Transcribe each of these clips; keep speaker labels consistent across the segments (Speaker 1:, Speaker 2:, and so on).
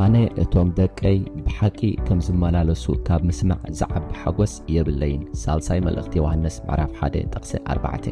Speaker 1: ኣነ እቶም ደቀይ ብሓቂ ከም ዝመላለሱ ካብ ምስማዕ ዝዓቢ ሓጐስ የብለይን ሳልሳይ መልእኽቲ ዮሃንስ ምዕራፍ 1 ጥቕሲ 4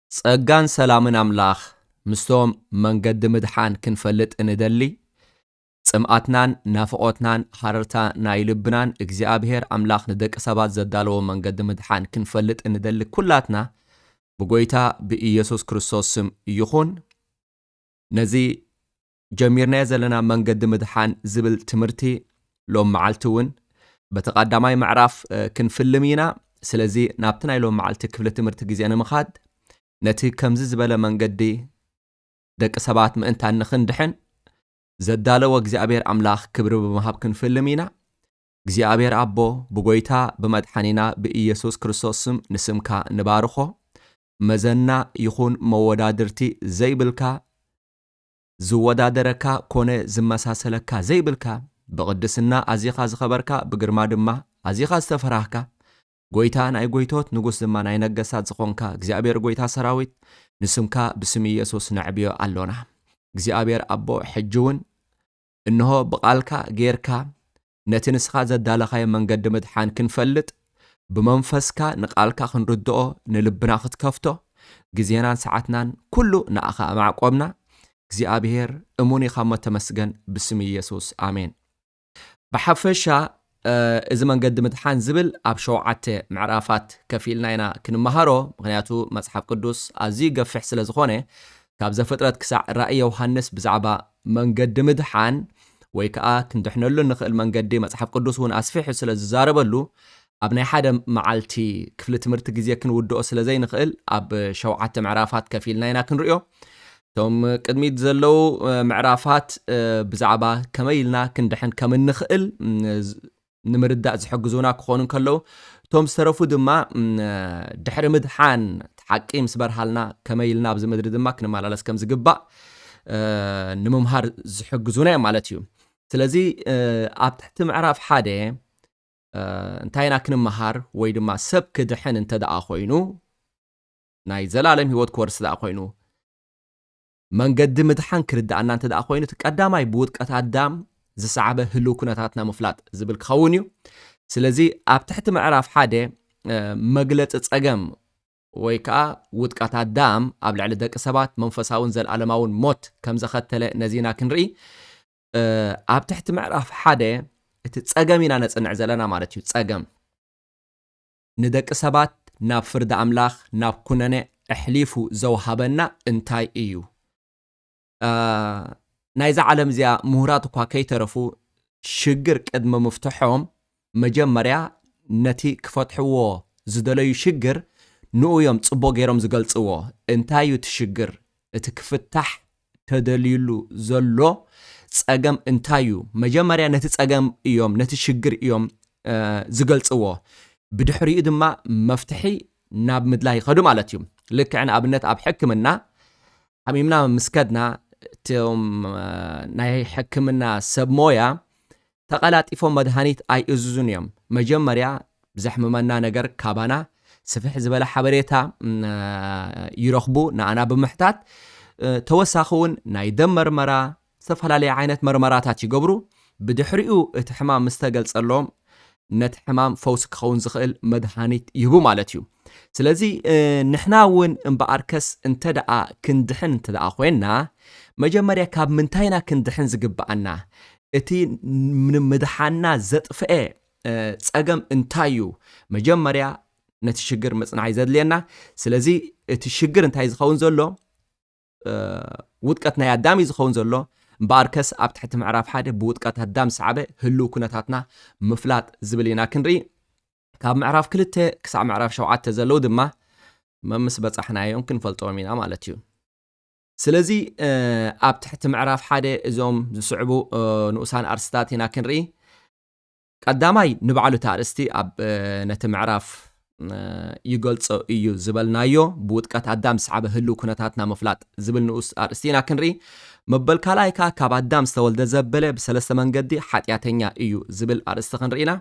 Speaker 2: ጸጋን ሰላምን ኣምላኽ ምስቶም መንገዲ ምድሓን ክንፈልጥ እንደሊ ጽምኣትናን ናፍቖትናን ሃረርታ ናይ ልብናን እግዚኣብሄር ኣምላኽ ንደቂ ሰባት ዘዳለዎ መንገዲ ምድሓን ክንፈልጥ እንደሊ ኩላትና ብጎይታ ብኢየሱስ ክርስቶስ ስም ይኹን ነዚ ጀሚርናዮ ዘለና መንገዲ ምድሓን ዝብል ትምህርቲ ሎም መዓልቲ እውን በቲ ቐዳማይ ምዕራፍ ክንፍልም ኢና። ስለዚ ናብቲ ናይ ሎም መዓልቲ ክፍሊ ትምህርቲ ግዜ ንምኻድ ነቲ ከምዚ ዝበለ መንገዲ ደቂ ሰባት ምእንታን ንኽንድሕን ዘዳለወ እግዚኣብሔር ኣምላኽ ክብሪ ብምሃብ ክንፍልም ኢና። እግዚኣብሔር ኣቦ ብጎይታ ብመድሓኒና ብኢየሱስ ክርስቶስ ስም ንስምካ ንባርኾ። መዘና ይኹን መወዳድርቲ ዘይብልካ ዝወዳደረካ ኮነ ዝመሳሰለካ ዘይብልካ፣ ብቕድስና ኣዚኻ ዝኸበርካ፣ ብግርማ ድማ ኣዚኻ ዝተፈራህካ፣ ጐይታ ናይ ጐይቶት፣ ንጉስ ድማ ናይ ነገሥታት ዝኾንካ እግዚኣብሔር ጐይታ ሠራዊት፣ ንስምካ ብስም ኢየሱስ ነዕብዮ ኣሎና። እግዚኣብሔር ኣቦ ሕጂውን እንሆ ብቓልካ ገይርካ ነቲ ንስኻ ዘዳለኻዮ መንገዲ ምድሓን ክንፈልጥ፣ ብመንፈስካ ንቓልካ ክንርድኦ ንልብና ክትከፍቶ፣ ግዜናን ሰዓትናን ኩሉ ንኣኻ ኣማዕቆብና፣ እግዚኣብሄር እሙን ኢኻሞ ተመስገን ብስም ኢየሱስ ኣሜን። ብሓፈሻ እዚ መንገዲ ምድሓን ዝብል ኣብ ሸውዓተ ምዕራፋት ከፊልና ኢና ክንመሃሮ፣ ምክንያቱ መጽሓፍ ቅዱስ ኣዝዩ ገፊሕ ስለ ዝኾነ ካብ ዘፍጥረት ክሳዕ ራእይ ዮሃንስ ብዛዕባ መንገዲ ምድሓን ወይ ከኣ ክንድሕነሉ እንኽእል መንገዲ መጽሓፍ ቅዱስ እውን ኣስፊሑ ስለ ዝዛረበሉ ኣብ ናይ ሓደ መዓልቲ ክፍሊ ትምህርቲ ግዜ ክንውድኦ ስለ ዘይንኽእል ኣብ ሸውዓተ ምዕራፋት ከፊልና ኢና ክንሪኦ እቶም ቅድሚት ዘለዉ ምዕራፋት ብዛዕባ ከመይ ኢልና ክንድሕን ከም እንኽእል ንምርዳእ ዝሕግዙና ክኾኑ እንከለዉ፣ እቶም ዝተረፉ ድማ ድሕሪ ምድሓን እቲ ሓቂ ምስ በርሃልና ከመይ ኢልና ኣብዚ ምድሪ ድማ ክንመላለስ ከም ዝግባእ ንምምሃር ዝሕግዙና እዮም ማለት እዩ። ስለዚ ኣብ ትሕቲ ምዕራፍ ሓደ እንታይ ኢና ክንመሃር ወይ ድማ ሰብ ክድሕን እንተ ደኣ ኮይኑ ናይ ዘላለም ህይወት ክወርስ ደኣ ኮይኑ መንገዲ ምድሓን ክርድኣና እንተ ደኣ ኮይኑ እቲ ቀዳማይ ብውድቀት ኣዳም ዝሰዓበ ህልው ኩነታትና ምፍላጥ ዝብል ክኸውን እዩ። ስለዚ ኣብ ትሕቲ ምዕራፍ ሓደ መግለጺ ጸገም ወይ ከኣ ውድቀት ኣዳም ኣብ ልዕሊ ደቂ ሰባት መንፈሳውን ዘልኣለማውን ሞት ከም ዘኸተለ ነዚ ኢና ክንርኢ ኣብ ትሕቲ ምዕራፍ ሓደ እቲ ጸገም ኢና ነጽንዕ ዘለና ማለት እዩ ጸገም ንደቂ ሰባት ናብ ፍርዲ ኣምላኽ ናብ ኩነኔ ኣሕሊፉ ዘውሃበና እንታይ እዩ? ናይዛ ዓለም እዚኣ ምሁራት እኳ ከይተረፉ ሽግር ቅድሚ ምፍትሖም መጀመርያ ነቲ ክፈትሕዎ ዝደለዩ ሽግር ንኡ እዮም ጽቡቕ ገይሮም ዝገልጽዎ። እንታይ እዩ እቲ ሽግር እቲ ክፍታሕ ተደልዩሉ ዘሎ ጸገም እንታይ እዩ? መጀመርያ ነቲ ጸገም እዮም፣ ነቲ ሽግር እዮም ዝገልጽዎ። ብድሕሪኡ ድማ መፍትሒ ናብ ምድላይ ይኸዱ ማለት እዩ። ልክዕ ንኣብነት ኣብ ሕክምና ሓሚምና ምስ ከድና እቶም ናይ ሕክምና ሰብ ሞያ ተቐላጢፎም መድሃኒት ኣይእዝዙን እዮም። መጀመርያ ዘሕምመና ነገር ካባና ስፍሕ ዝበለ ሓበሬታ ይረኽቡ፣ ንኣና ብምሕታት ተወሳኺ እውን ናይ ደም መርመራ፣ ዝተፈላለየ ዓይነት መርመራታት ይገብሩ። ብድሕሪኡ እቲ ሕማም ምስተገልጸሎም ነቲ ሕማም ፈውሲ ክኸውን ዝኽእል መድሃኒት ይህቡ ማለት እዩ። ስለዚ ንሕና እውን እምበኣርከስ እንተ ደኣ ክንድሕን እንተ ደኣ ዄንና፣ መጀመርያ ካብ ምንታይ ኢና ክንድሕን ዝግብኣና? እቲ ንምድሓንና ዘጥፍኤ ጸገም እንታይ እዩ? መጀመርያ ነቲ ሽግር ምጽናዕ እዩ ዘድልየና። ስለዚ እቲ ሽግር እንታይ እዩ ዝኸውን ዘሎ? ውድቀት ናይ ኣዳም እዩ ዝኸውን ዘሎ። እምበኣርከስ ኣብ ትሕቲ ምዕራፍ ሓደ ብውድቀት ኣዳም ዝሰዓበ ህልው ኩነታትና ምፍላጥ ዝብል ኢና ክንርኢ። ካብ ምዕራፍ ክልተ ክሳዕ ምዕራፍ ሸውዓተ ዘለዉ ድማ መምስ በጻሕናዮም ክንፈልጦም ኢና ማለት እዩ። ስለዚ ኣብ ትሕቲ ምዕራፍ ሓደ እዞም ዝስዕቡ ንኡሳን ኣርስታት ኢና ክንርኢ። ቀዳማይ ንባዕሉ እቲ ኣርእስቲ ኣብ ነቲ ምዕራፍ ይገልጾ እዩ ዝበልናዮ ብውጥቀት ኣዳም ዝሰዓበ ህልው ኩነታትና ምፍላጥ ዝብል ንኡስ ኣርእስቲ ኢና ክንርኢ መበል ካልኣይ ከኣ ካብ ኣዳም ዝተወልደ ዘበለ ብሰለስተ መንገዲ ሓጢኣተኛ እዩ ዝብል ኣርእስቲ ክንርኢ ኢና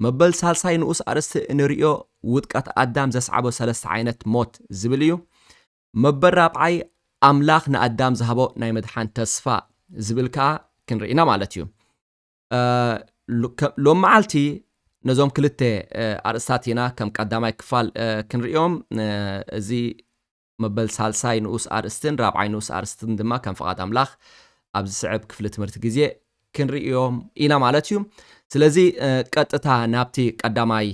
Speaker 2: መበል ሳልሳይ ንኡስ ኣርእስቲ እንርእዮ ውጥቀት ኣዳም ዘስዓቦ ሰለስተ ዓይነት ሞት ዝብል እዩ መበል ራብዓይ ኣምላኽ ንኣዳም ዝሃቦ ናይ መድሓን ተስፋ ዝብል ከኣ ክንርኢና ማለት እዩ ሎም መዓልቲ ነዞም ክልተ ኣርእስታት ኢና ከም ቀዳማይ ክፋል ክንሪኦም እዚ መበል ሳልሳይ ንኡስ ኣርእስትን ራብዓይ ንኡስ ኣርእስትን ድማ ከም ፍቓድ ኣምላኽ ኣብ ዝስዕብ ክፍሊ ትምህርቲ ግዜ ክንሪኦም ኢና ማለት እዩ ስለዚ ቀጥታ ናብቲ ቀዳማይ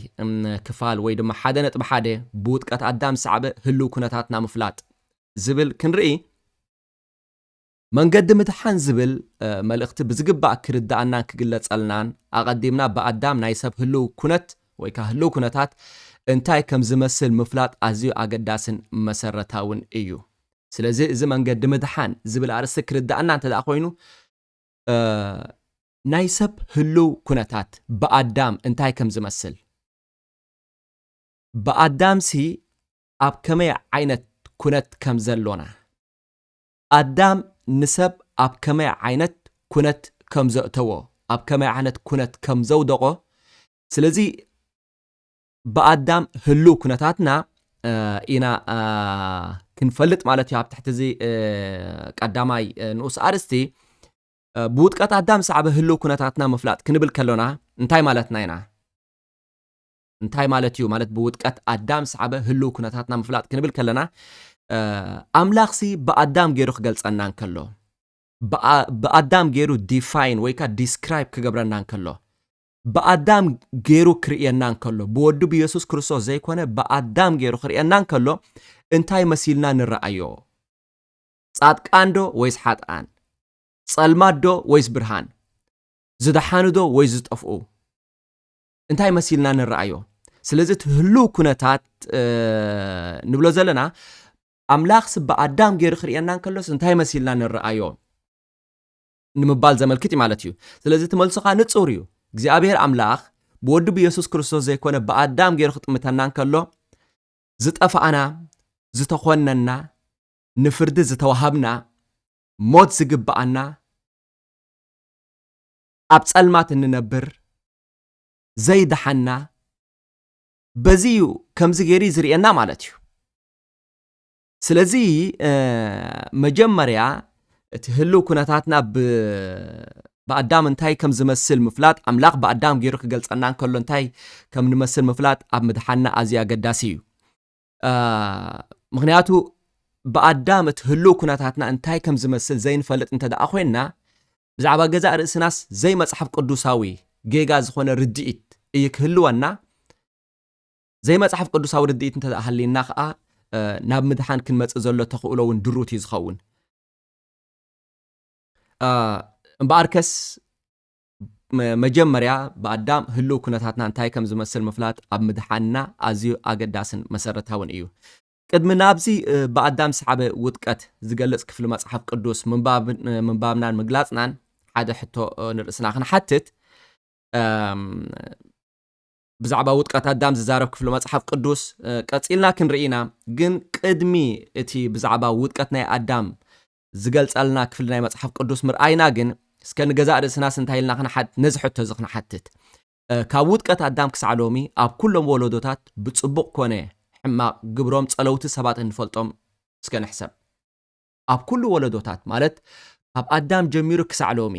Speaker 2: ክፋል ወይ ድማ ሓደ ነጥቢ ሓደ ብውጥቀት ኣዳም ዝሰዕበ ህልው ኩነታትና ምፍላጥ ዝብል ክንርኢ መንገዲ ምድሓን ዝብል መልእኽቲ ብዝግባእ ክርደኣናን ክግለጸልናን ኣቐዲምና ብኣዳም ናይ ሰብ ህልው ኩነት ወይ ከኣ ህልው ኩነታት እንታይ ከም ዝመስል ምፍላጥ ኣዝዩ ኣገዳስን መሰረታውን እዩ። ስለዚ እዚ መንገዲ ምድሓን ዝብል ኣርእስቲ ክርደኣና እንተደኣ ኮይኑ ናይ ሰብ ህልው ኩነታት ብኣዳም እንታይ ከም ዝመስል ብኣዳምሲ ኣብ ከመይ ዓይነት ኩነት ከም ዘሎና ኣዳም ንሰብ ኣብ ከመይ ዓይነት ኩነት ከም ዘእተዎ ኣብ ከመይ ዓይነት ኩነት ከም ዘውደቆ ስለዚ ብኣዳም ህሉው ኩነታትና ኢና ክንፈልጥ ማለት እዩ ኣብ ትሕቲ እዚ ቀዳማይ ንኡስ ኣርእስቲ ብውጥቀት ኣዳም ሳዕበ ህሉው ኩነታትና ምፍላጥ ክንብል ከሎና እንታይ ማለትና ኢና እንታይ ማለት እዩ ማለት ብውድቀት ኣዳም ዝሰዓበ ህልው ኩነታትና ምፍላጥ ክንብል ከለና ኣምላኽሲ ብኣዳም ገይሩ ክገልጸና እንከሎ ብኣዳም ገይሩ ዲፋይን ወይ ከዓ ዲስክራይብ ክገብረና እንከሎ ብኣዳም ገይሩ ክርእየና እንከሎ ብወዱ ብየሱስ ክርስቶስ ዘይኮነ ብኣዳም ገይሩ ክርእየና እንከሎ እንታይ መሲልና ንረኣዮ ጻድቃን ዶ ወይስ ሓጥኣን ጸልማት ዶ ወይስ ብርሃን ዝደሓኑ ዶ ወይ ዝጠፍኡ እንታይ መሲልና ንረኣዮ ስለዚ እቲ ህልው ኩነታት ንብሎ ዘለና ኣምላኽ ስበ ኣዳም ገይሩ ክርእየና እንከሎስ እንታይ መሲልና ንረኣዮ ንምባል ዘመልክት እዩ ማለት እዩ ስለዚ እቲ መልሶ ከዓ ንፁር እዩ እግዚኣብሔር ኣምላኽ ብወዱ ብየሱስ ክርስቶስ ዘይኮነ ብኣዳም ገይሩ ክጥምተና እንከሎ ዝጠፋእና ዝተኾነና ንፍርዲ ዝተዋሃብና ሞት ዝግብኣና ኣብ ፀልማት እንነብር ዘይደሓና በዚ እዩ ከምዚ ገይሩ ዝርእየና ማለት እዩ ስለዚ መጀመርያ እቲ ህልው ኩነታትና ብኣዳም እንታይ ከም ዝመስል ምፍላጥ ኣምላኽ ብኣዳም ገይሩ ክገልጸና እንከሎ እንታይ ከም ንመስል ምፍላጥ ኣብ ምድሓና ኣዝዩ ኣገዳሲ እዩ ምክንያቱ ብኣዳም እቲ ህልው ኩነታትና እንታይ ከም ዝመስል ዘይንፈልጥ እንተ ደኣ ኮንና ብዛዕባ ገዛእ ርእስናስ ዘይመጽሓፍ ቅዱሳዊ ጌጋ ዝኾነ ርድኢት እዩ ክህልወና። ዘይመጽሓፍ ቅዱሳዊ ርድኢት እንተ ሃልይና ከኣ ናብ ምድሓን ክንመጽእ ዘሎ ተኽእሎ እውን ድሩት እዩ ዝኸውን። እምበኣርከስ መጀመርያ ብኣዳም ህልው ኩነታትና እንታይ ከም ዝመስል ምፍላጥ ኣብ ምድሓንና ኣዝዩ ኣገዳስን መሰረታውን እዩ። ቅድሚ ናብዚ ብኣዳም ዝሰዓበ ውድቀት ዝገልጽ ክፍሊ መጽሓፍ ቅዱስ ምንባብናን ምግላጽናን ሓደ ሕቶ ንርእስና ክንሓትት ብዛዕባ ውድቀት ኣዳም ዝዛረብ ክፍሊ መጽሓፍ ቅዱስ ቀጺልና ክንርኢ ኢና ግን ቅድሚ እቲ ብዛዕባ ውድቀት ናይ ኣዳም ዝገልጸልና ክፍሊ ናይ መጽሓፍ ቅዱስ ምርኣይና ግን እስከ ንገዛእ ርእስናስ እንታይ ኢልና ክንሓት ነዚ ሕቶ እዚ ክንሓትት ካብ ውድቀት ኣዳም ክሳዕ ሎሚ ኣብ ኩሎም ወለዶታት ብጽቡቕ ኮነ ሕማቕ ግብሮም ጸለውቲ ሰባት እንፈልጦም እስከ ንሕሰብ። ኣብ ኩሉ ወለዶታት ማለት ካብ ኣዳም ጀሚሩ ክሳዕ ሎሚ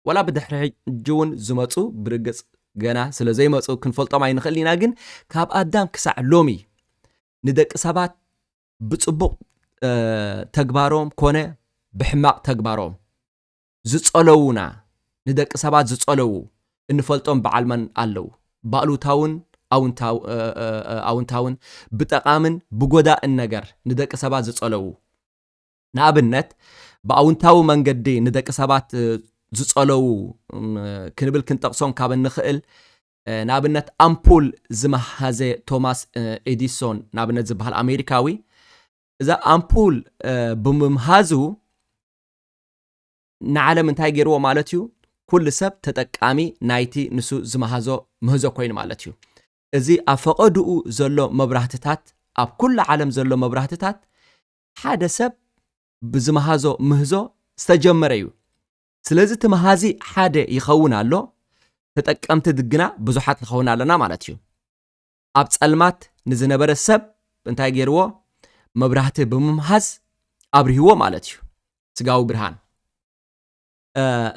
Speaker 2: ዋላ ብድሕሪ ሕጂውን ዝመጹ ብርግጽ ገና ስለ ዘይመጹ ክንፈልጦም ኣይንኽእልን ኢና ግን ካብ ኣዳም ክሳዕ ሎሚ ንደቂ ሰባት ብጽቡቕ ተግባሮም ኮነ ብሕማቕ ተግባሮም ዝጸለዉና ንደቂ ሰባት ዝጸለዉ እንፈልጦም በዓል መን ኣለዉ? ብኣሉታውን ኣውንታውን ብጠቓምን ብጎዳእን ነገር ንደቂ ሰባት ዝጸለዉ ንኣብነት ብኣውንታዊ መንገዲ ንደቂ ሰባት ዝጸለዉ ክንብል ክንጠቕሶም ካብ እንኽእል ንኣብነት ኣምፑል ዝመሃዘ ቶማስ ኤዲሶን ንኣብነት ዝበሃል ኣሜሪካዊ እዛ ኣምፑል ብምምሃዙ ንዓለም እንታይ ገይርዎ ማለት እዩ? ኩሉ ሰብ ተጠቃሚ ናይቲ ንሱ ዝመሃዞ ምህዞ ኮይኑ ማለት እዩ። እዚ ኣብ ፈቐድኡ ዘሎ መብራህትታት፣ ኣብ ኩሉ ዓለም ዘሎ መብራህትታት ሓደ ሰብ ብዝመሃዞ ምህዞ ዝተጀመረ እዩ። ስለዚ እቲ መሃዚ ሓደ ይኸውን ኣሎ፣ ተጠቀምቲ ግና ብዙሓት ንኸውን ኣለና ማለት እዩ። ኣብ ጸልማት ንዝነበረ ሰብ እንታይ ገይርዎ? መብራህቲ ብምምሃዝ ኣብርህዎ ማለት እዩ፣ ስጋዊ ብርሃን።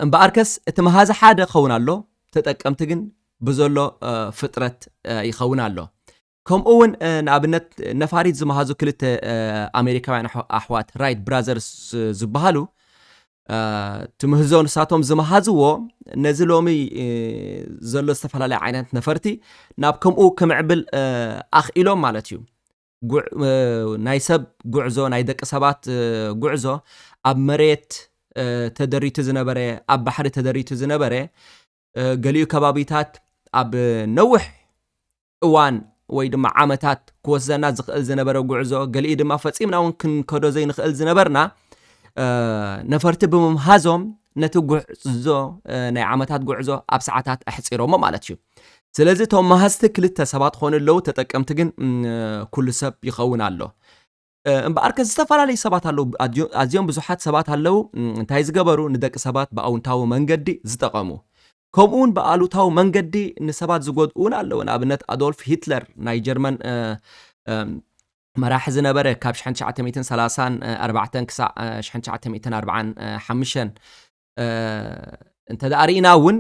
Speaker 2: እምበኣርከስ እቲ መሃዚ ሓደ ኸውን ኣሎ፣ ተጠቀምቲ ግን ብዘሎ ፍጥረት ይኸውን ኣሎ። ከምኡ እውን ንኣብነት ነፋሪት ዝመሃዙ ክልተ ኣሜሪካውያን ኣሕዋት ራይት ብራዘርስ ዝበሃሉ ትምህዞ ንሳቶም ዝመሃዝዎ ነዚ ሎሚ ዘሎ ዝተፈላለየ ዓይነት ነፈርቲ ናብ ከምኡ ክምዕብል ኣኽኢሎም ማለት እዩ ናይ ሰብ ጉዕዞ ናይ ደቂ ሰባት ጉዕዞ ኣብ መሬት ተደሪቱ ዝነበረ ኣብ ባሕሪ ተደሪቱ ዝነበረ ገሊኡ ከባቢታት ኣብ ነውሕ እዋን ወይ ድማ ዓመታት ክወስደና ዝኽእል ዝነበረ ጉዕዞ ገሊኡ ድማ ፈፂምና እውን ክንከዶ ዘይንኽእል ዝነበርና ነፈርቲ ብምምሃዞም ነቲ ጉዕዞ ናይ ዓመታት ጉዕዞ ኣብ ሰዓታት ኣሕፂሮሞ ማለት እዩ ስለዚ እቶም መሃዝቲ ክልተ ሰባት ክኾኑ ኣለዉ ተጠቀምቲ ግን ኩሉ ሰብ ይኸውን ኣሎ እምበኣር ከ ዝተፈላለዩ ሰባት ኣለዉ፣ ኣዝዮ- ኣዝዮም ብዙሓት ሰባት ኣለዉ እም፣ እንታይ ዝገበሩ ንደቂ ሰባት ብኣውንታዊ መንገዲ ዝጠቐሙ። ከምኡውን ብኣሉታዊ መንገዲ ንሰባት ዝጎድኡ እውን ኣለዉ። ንኣብነት ኣዶልፍ ሂትለር ናይ ጀርመን እ፣ እም፣ መራሒ ዝነበረ ካብ 1934 ክሳዕ እ፣ 1945 እንተ ርኢና እውን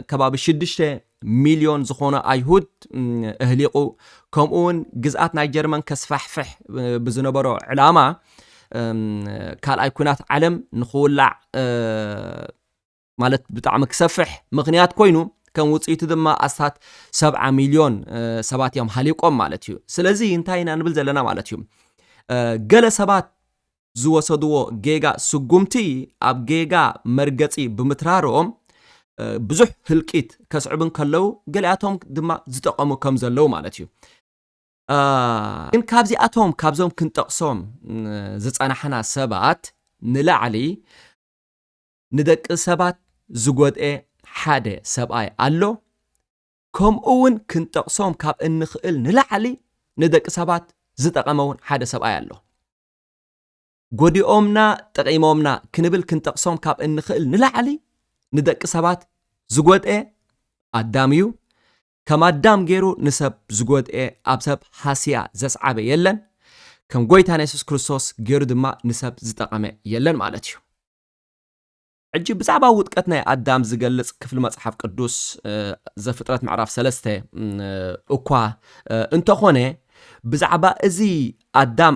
Speaker 2: ከባቢ ሽዱሽተ ሚልዮን ዝኾኑ ኣይሁድ እህሊቑ ከምኡ እውን ግዝኣት ናይ ጀርመን ከስፋሕፍሕ ብዝነበሮ ዕላማ ካልኣይ ኩናት ዓለም ንክውላዕ ማለት ብጣዕሚ ክሰፍሕ ምክንያት ኮይኑ ከም ውፅኢቱ ድማ ኣስታት ሰብዓ ሚልዮን ሰባት እዮም ሃሊቆም ማለት እዩ ስለዚ እንታይ ኢና ንብል ዘለና ማለት እዩ ገለ ሰባት ዝወሰድዎ ጌጋ ስጉምቲ ኣብ ጌጋ መርገጺ ብምትራርኦም ብዙሕ ህልቂት ከስዕቡ እንከለዉ ገሊኣቶም ድማ ዝጠቐሙ ከም ዘለዉ ማለት እዩ። ግን ካብዚኣቶም ካብዞም ክንጠቕሶም ዝጸናሕና ሰባት ንላዕሊ ንደቂ ሰባት ዝጎድኤ ሓደ ሰብኣይ ኣሎ። ከምኡ እውን ክንጠቕሶም ካብ እንኽእል ንላዕሊ ንደቂ ሰባት ዝጠቐመ እውን ሓደ ሰብኣይ ኣሎ። ጎዲኦምና ጠቒሞምና ክንብል ክንጠቕሶም ካብ እንኽእል ንላዕሊ ንደቂ ሰባት ዝጎድኤ ኣዳም እዩ። ከም ኣዳም ገይሩ ንሰብ ዝጎድኤ ኣብ ሰብ ሃስያ ዘስዓበ የለን። ከም ጎይታና የሱስ ክርስቶስ ገይሩ ድማ ንሰብ ዝጠቐመ የለን ማለት እዩ። ሕጂ ብዛዕባ ውድቀት ናይ ኣዳም ዝገልጽ ክፍሊ መጽሓፍ ቅዱስ ዘፍጥረት ምዕራፍ ሰለስተ እኳ እንተኾነ ብዛዕባ እዚ ኣዳም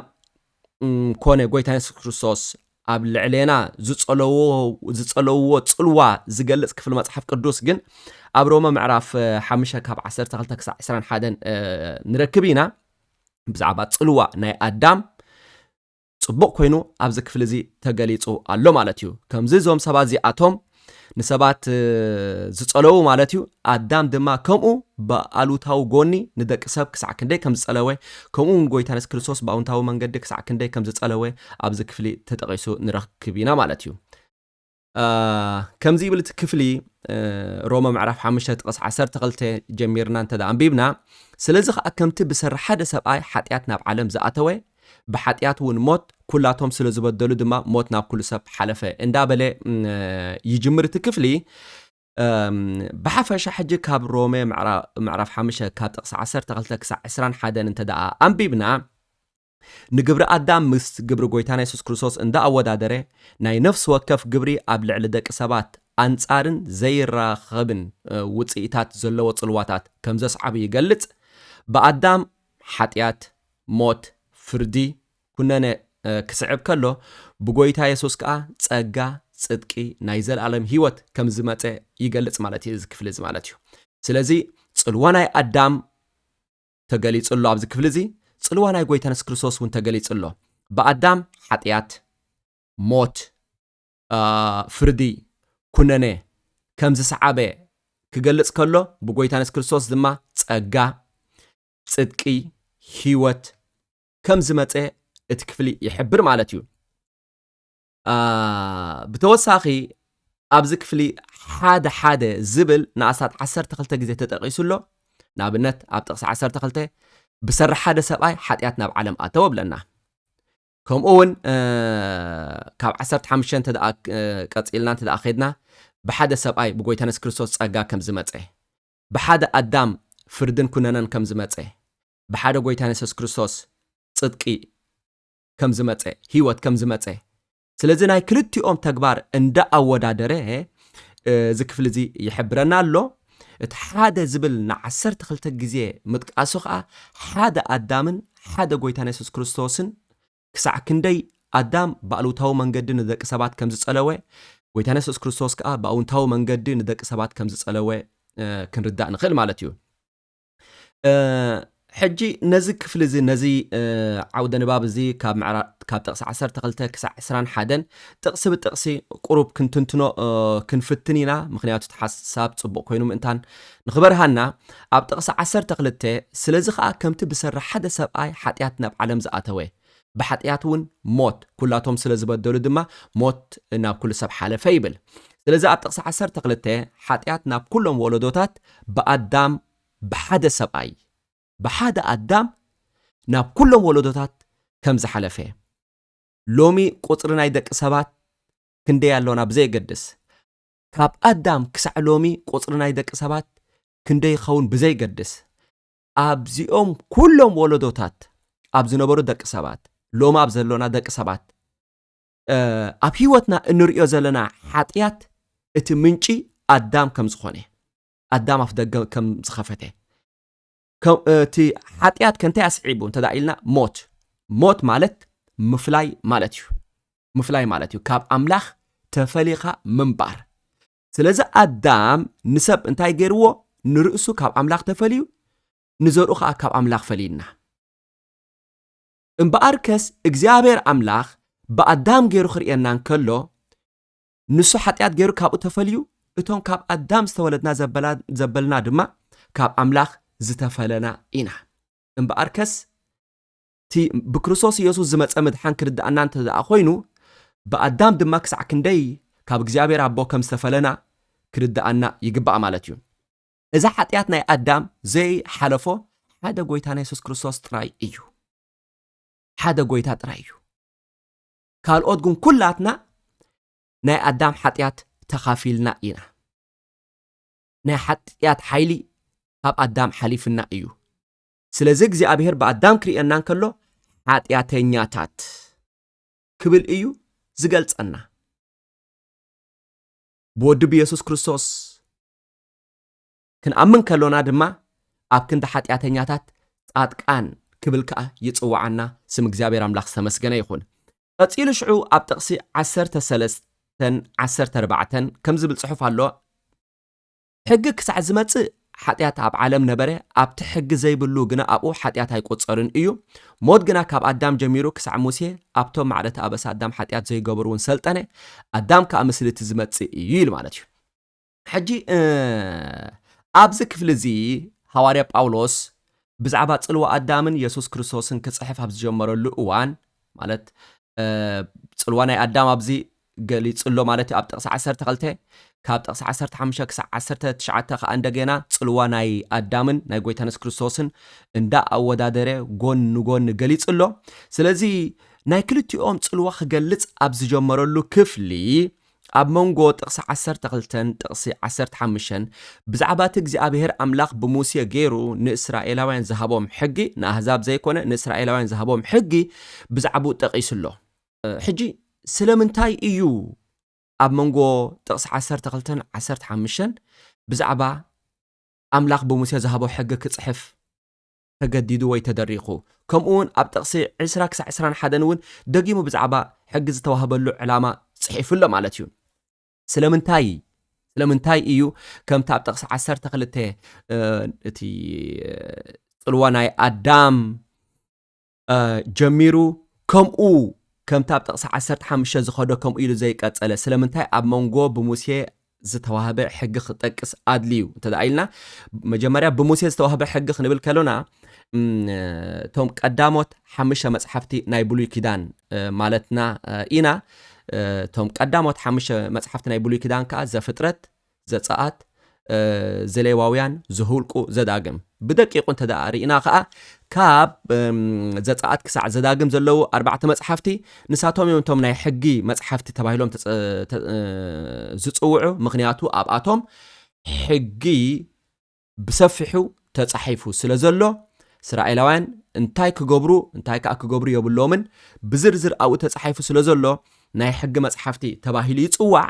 Speaker 2: ኮነ ጎይታ የሱስ ክርስቶስ ኣብ ልዕሌና ዝጸለውዎ ጽልዋ ዝገልጽ ክፍሊ መጽሓፍ ቅዱስ ግን ኣብ ሮመ ምዕራፍ ሓሙሽተ ካብ 12 ክሳዕ 21 ንረክብ ኢና ብዛዕባ ጽልዋ ናይ ኣዳም ጽቡቕ ኮይኑ ኣብዚ ክፍሊ እዚ ተገሊጹ ኣሎ ማለት እዩ። ከምዚ እዞም ሰባት እዚኣቶም ንሰባት ዝጸለዉ ማለት እዩ። ኣዳም ድማ ከምኡ ብኣሉታዊ ጎኒ ንደቂ ሰብ ክሳዕ ክንደይ ከም ዝጸለወ ከምኡ እውን ጎይታ የሱስ ክርስቶስ ብኣውንታዊ መንገዲ ክሳዕ ክንደይ ከም ዝጸለወ ኣብዚ ክፍሊ ተጠቒሱ ንረክብ ኢና ማለት እዩ። ከምዚ ይብል እቲ ክፍሊ ሮመ ምዕራፍ 5 ጥቕስ 12 ጀሚርና እንተ ኣንቢብና ስለዚ ከዓ ከምቲ ብሰሪ ሓደ ሰብኣይ ሓጢኣት ናብ ዓለም ዝኣተወ ብሓጢኣት እውን ሞት ኩላቶም ስለ ዝበደሉ ድማ ሞት ናብ ኩሉ ሰብ ሓለፈ እንዳበለ ይጅምር እቲ ክፍሊ ብሓፈሻ ሕጂ ካብ ሮሜ ምዕራፍ 5 ካብ ጥቕሲ 12 ክሳብ 21 እንተ ኣንቢብና ንግብሪ ኣዳም ምስ ግብሪ ጎይታና የሱስ ክርስቶስ እንዳ ኣወዳደረ ናይ ነፍሲ ወከፍ ግብሪ ኣብ ልዕሊ ደቂ ሰባት ኣንጻርን ዘይራኸብን ውጽኢታት ዘለዎ ጽልዋታት ከም ዘስዓቡ ይገልጽ ብኣዳም ሓጢኣት ሞት ፍርዲ ኩነነ ክስዕብ ከሎ ብጎይታ የሱስ ከኣ ጸጋ ጽድቂ ናይ ዘልኣለም ህይወት ከም ዝመጸ ይገልጽ ማለት እዩ እዚ ክፍሊ እዚ ማለት እዩ ስለዚ ጽልዋ ናይ ኣዳም ተገሊጹ ኣሎ ኣብዚ ክፍሊ እዚ ጽልዋ ናይ ጎይታና የሱስ ክርስቶስ እውን ተገሊጹ ኣሎ ብኣዳም ሓጢኣት ሞት ፍርዲ ኩነነ ከም ዝሰዓበ ክገልጽ ከሎ ብጎይታና የሱስ ክርስቶስ ድማ ጸጋ ጽድቂ ህይወት ከም ዝመጸ እቲ ክፍሊ ይሕብር ማለት እዩ ብተወሳኺ ኣብዚ ክፍሊ ሓደ ሓደ ዝብል ንኣስታት 12 ግዜ ተጠቒሱ ኣሎ ንኣብነት ኣብ ጥቕሲ 12 ብሰራሕ ሓደ ሰብኣይ ሓጢኣት ናብ ዓለም ኣተወ ብለና ከምኡ እውን ካብ 15 እንተ ቀፂልና እንተ ከድና ብሓደ ሰብኣይ ብጎይታ የሱስ ክርስቶስ ጸጋ ከም ዝመፀ ብሓደ ኣዳም ፍርድን ኩነነን ከም ዝመፀ ብሓደ ጎይታ የሱስ ክርስቶስ ጽድቂ ከም ዝመጸ ህይወት ከም ዝመጸ ስለዚ ናይ ክልቲኦም ተግባር እንዳ ኣወዳደረ እዚ ክፍሊ እዚ ይሕብረና ኣሎ እቲ ሓደ ዝብል ንዓሰርተ ክልተ ግዜ ምጥቃሱ ከዓ ሓደ ኣዳምን ሓደ ጎይታን የሱስ ክርስቶስን ክሳዕ ክንደይ ኣዳም ብኣሉታዊ መንገዲ ንደቂ ሰባት ከም ዝጸለወ ጎይታን የሱስ ክርስቶስ ከዓ ብኣውንታዊ መንገዲ ንደቂ ሰባት ከም ዝጸለወ ክንርዳእ ንኽእል ማለት እዩ ሕጂ ነዚ ክፍሊ እዚ ነዚ ዓውደ ንባብ እዚ ካብ ካብ ጥቕሲ 12 ክሳዕ 21 ጥቕሲ ብጥቕሲ ቁሩብ ክንትንትኖ ክንፍትን ኢና ምክንያቱ እቲ ሓሳብ ጽቡቕ ኮይኑ ምእንታን ንኽበርሃና ኣብ ጥቕሲ 12 ስለዚ ኸኣ ከምቲ ብሰሪ ሓደ ሰብኣይ ሓጢኣት ናብ ዓለም ዝኣተወ ብሓጥያት እውን ሞት፣ ኵላቶም ስለ ዝበደሉ ድማ ሞት ናብ ኵሉ ሰብ ሓለፈ ይብል። ስለዚ ኣብ ጥቕሲ ዓሰርተ ክልተ ሓጥያት ናብ ኵሎም ወለዶታት ብኣዳም ብሓደ ሰብኣይ፣ ብሓደ ኣዳም ናብ ኵሎም ወለዶታት ከም ዝሓለፈ እዩ። ሎሚ ቍጽሪ ናይ ደቂ ሰባት ክንደይ ኣሎና ብዘየገድስ፣ ካብ ኣዳም ክሳዕ ሎሚ ቍጽሪ ናይ ደቂ ሰባት ክንደይ ይኸውን ብዘይገድስ፣ ኣብዚኦም ኩሎም ወለዶታት ኣብ ዝነበሩ ደቂ ሰባት ሎሚ ኣብ ዘሎና ደቂ ሰባት ኣብ ህይወትና እንሪኦ ዘለና ሓጢኣት እቲ ምንጪ ኣዳም ከም ዝኾነ ኣዳም ኣፍ ደገ ከም ዝኸፈተ እቲ ሓጢኣት ከንታይ ኣስዒቡ እንተ ኢልና ሞት ሞት ማለት ምፍላይ ማለት እዩ ምፍላይ ማለት እዩ ካብ ኣምላኽ ተፈሊኻ ምንባር ስለዚ ኣዳም ንሰብ እንታይ ገይርዎ? ንርእሱ ካብ ኣምላኽ ተፈልዩ ንዘርኡ ከኣ ካብ ኣምላኽ ፈሊዩና። እምበኣርከስ እግዚኣብሔር ኣምላኽ ብኣዳም ገይሩ ክርእየና እንከሎ ንሱ ሓጢኣት ገይሩ ካብኡ ተፈልዩ እቶም ካብ ኣዳም ዝተወለድና ዘበልና ድማ ካብ ኣምላኽ ዝተፈለና ኢና። እምበኣርከስ እቲ ብክርስቶስ ኢየሱስ ዝመጸ ምድሓን ክርድኣና እንተ ደኣ ኾይኑ፣ ብኣዳም ድማ ክሳዕ ክንደይ ካብ እግዚኣብሔር ኣቦ ከም ዝተፈለና ክርድኣና ይግባእ ማለት እዩ። እዚ ሓጢኣት ናይ ኣዳም ዘይ ሓለፎ ሓደ ጎይታና የሱስ ክርስቶስ ጥራይ እዩ። ሓደ ጎይታ ጥራይ እዩ። ካልኦት ግን ኩላትና ናይ ኣዳም ሓጢኣት ተኻፊልና ኢና። ናይ ሓጢኣት ሓይሊ ካብ ኣዳም ሓሊፍና እዩ። ስለዚ እግዚኣብሔር ብኣዳም ክርእየና እንከሎ ሓጢኣተኛታት ክብል እዩ ዝገልጸና ብወዲ ብየሱስ ክርስቶስ ክንኣምን ከሎና ድማ ኣብ ክንዲ ሓጢኣተኛታት ጻድቃን ክብል ከዓ ይጽዋዓና ስም እግዚኣብሔር ኣምላኽ ዝተመስገነ ይኹን ቀጺሉ ሽዑ ኣብ ጥቕሲ ዓሰርተ ሰለስተ ዓሰርተ ኣርባዕተን ከም ዝብል ጽሑፍ ኣሎ ሕጊ ክሳዕ ዝመጽእ ሓጢኣት ኣብ ዓለም ነበረ፣ ኣብቲ ሕጊ ዘይብሉ ግና ኣብኡ ሓጢኣት ኣይቁጸርን እዩ። ሞት ግና ካብ ኣዳም ጀሚሩ ክሳዕ ሙሴ ኣብቶም ማዕረቲ ኣበሳ ኣዳም ሓጢኣት ዘይገበሩ እውን ሰልጠነ፣ ኣዳም ከኣ ምስሊ እቲ ዝመጽእ እዩ ኢሉ ማለት እዩ። ሕጂ ኣብዚ ክፍሊ እዚ ሃዋርያ ጳውሎስ ብዛዕባ ጽልዋ ኣዳምን የሱስ ክርስቶስን ክጽሕፍ ኣብ ዝጀመረሉ እዋን ማለት ጽልዋ ናይ ኣዳም ኣብዚ ገሊጹ ኣሎ ማለት እዩ ኣብ ጥቕሲ ዓሰርተ ክልተ፣ ካብ ጥቕሲ ዓሰርተ ሓሙሽተ ክሳዕ ዓሰርተ ትሽዓተ ከኣ እንደገና ጽልዋ ናይ ኣዳምን ናይ ጎይታና የሱስ ክርስቶስን እንዳ ኣወዳደረ ጎን ንጎኒ ገሊጹ ኣሎ። ስለዚ ናይ ክልቲኦም ጽልዋ ክገልጽ ኣብ ዝጀመረሉ ክፍሊ ኣብ መንጎ ጥቕሲ ዓሰርተ ክልተን ጥቕሲ ዓሰርተ ሓሙሽተን ብዛዕባ እቲ እግዚኣብሄር ኣምላኽ ብሙሴ ገይሩ ንእስራኤላውያን ዝሃቦም ሕጊ ንኣህዛብ ዘይኮነ ንእስራኤላውያን ዝሃቦም ሕጊ ብዛዕብኡ ጠቒሱ ኣሎ። ሕጂ ስለምንታይ እዩ ኣብ መንጎ ጥቕሲ ዓሰርተ ክልተን ዓሰርተ ሓሙሽተን ብዛዕባ ኣምላኽ ብሙሴ ዝሃቦ ሕጊ ክጽሕፍ ተገዲዱ ወይ ተደሪኹ? ከምኡውን ኣብ ጥቕሲ ዕስራ ክሳዕ ዕስራን ሓደን እውን ደጊሙ ብዛዕባ ሕጊ ዝተዋህበሉ ዕላማ ጽሒፉ ኣሎ ማለት እዩ። ስለምንታይ ስለምንታይ እዩ ከምቲ ኣብ ጥቕሲ ዓሰርተ ክልተ እቲ ጽልዋ ናይ ኣዳም ጀሚሩ ከምኡ ከምቲ ኣብ ጥቕሲ ዓሰርተ ሓሙሽተ ዝኸዶ ከምኡ ኢሉ ዘይቀጸለ ስለምንታይ ኣብ መንጎ ብሙሴ ዝተዋህበ ሕጊ ክጠቅስ ኣድልዩ እንተ ኢልና መጀመርያ ብሙሴ ዝተዋህበ ሕጊ ክንብል ከሎና እቶም ቀዳሞት ሓሙሽተ መፅሓፍቲ ናይ ብሉይ ኪዳን ማለትና ኢና እቶም ቀዳሞት ሓሙሽተ መፅሓፍቲ ናይ ብሉይ ኪዳን ከዓ ዘፍጥረት ዘጸኣት ዘሌዋውያን ዘሁልቁ ዘዳግም ብደቂቑ እንተ ደኣ ርኢና ኸኣ ካብ ዘጸኣት ክሳዕ ዘዳግም ዘለዉ ኣርባዕተ መጽሓፍቲ ንሳቶም እዮም እቶም ናይ ሕጊ መጽሓፍቲ ተባሂሎም ዝጽውዑ ምክንያቱ ኣብኣቶም ሕጊ ብሰፊሑ ተጻሒፉ ስለ ዘሎ፣ እስራኤላውያን እንታይ ክገብሩ እንታይ ከኣ ክገብሩ የብሎምን ብዝርዝር ኣብኡ ተጻሒፉ ስለ ዘሎ ናይ ሕጊ መጽሓፍቲ ተባሂሉ ይጽዋዕ።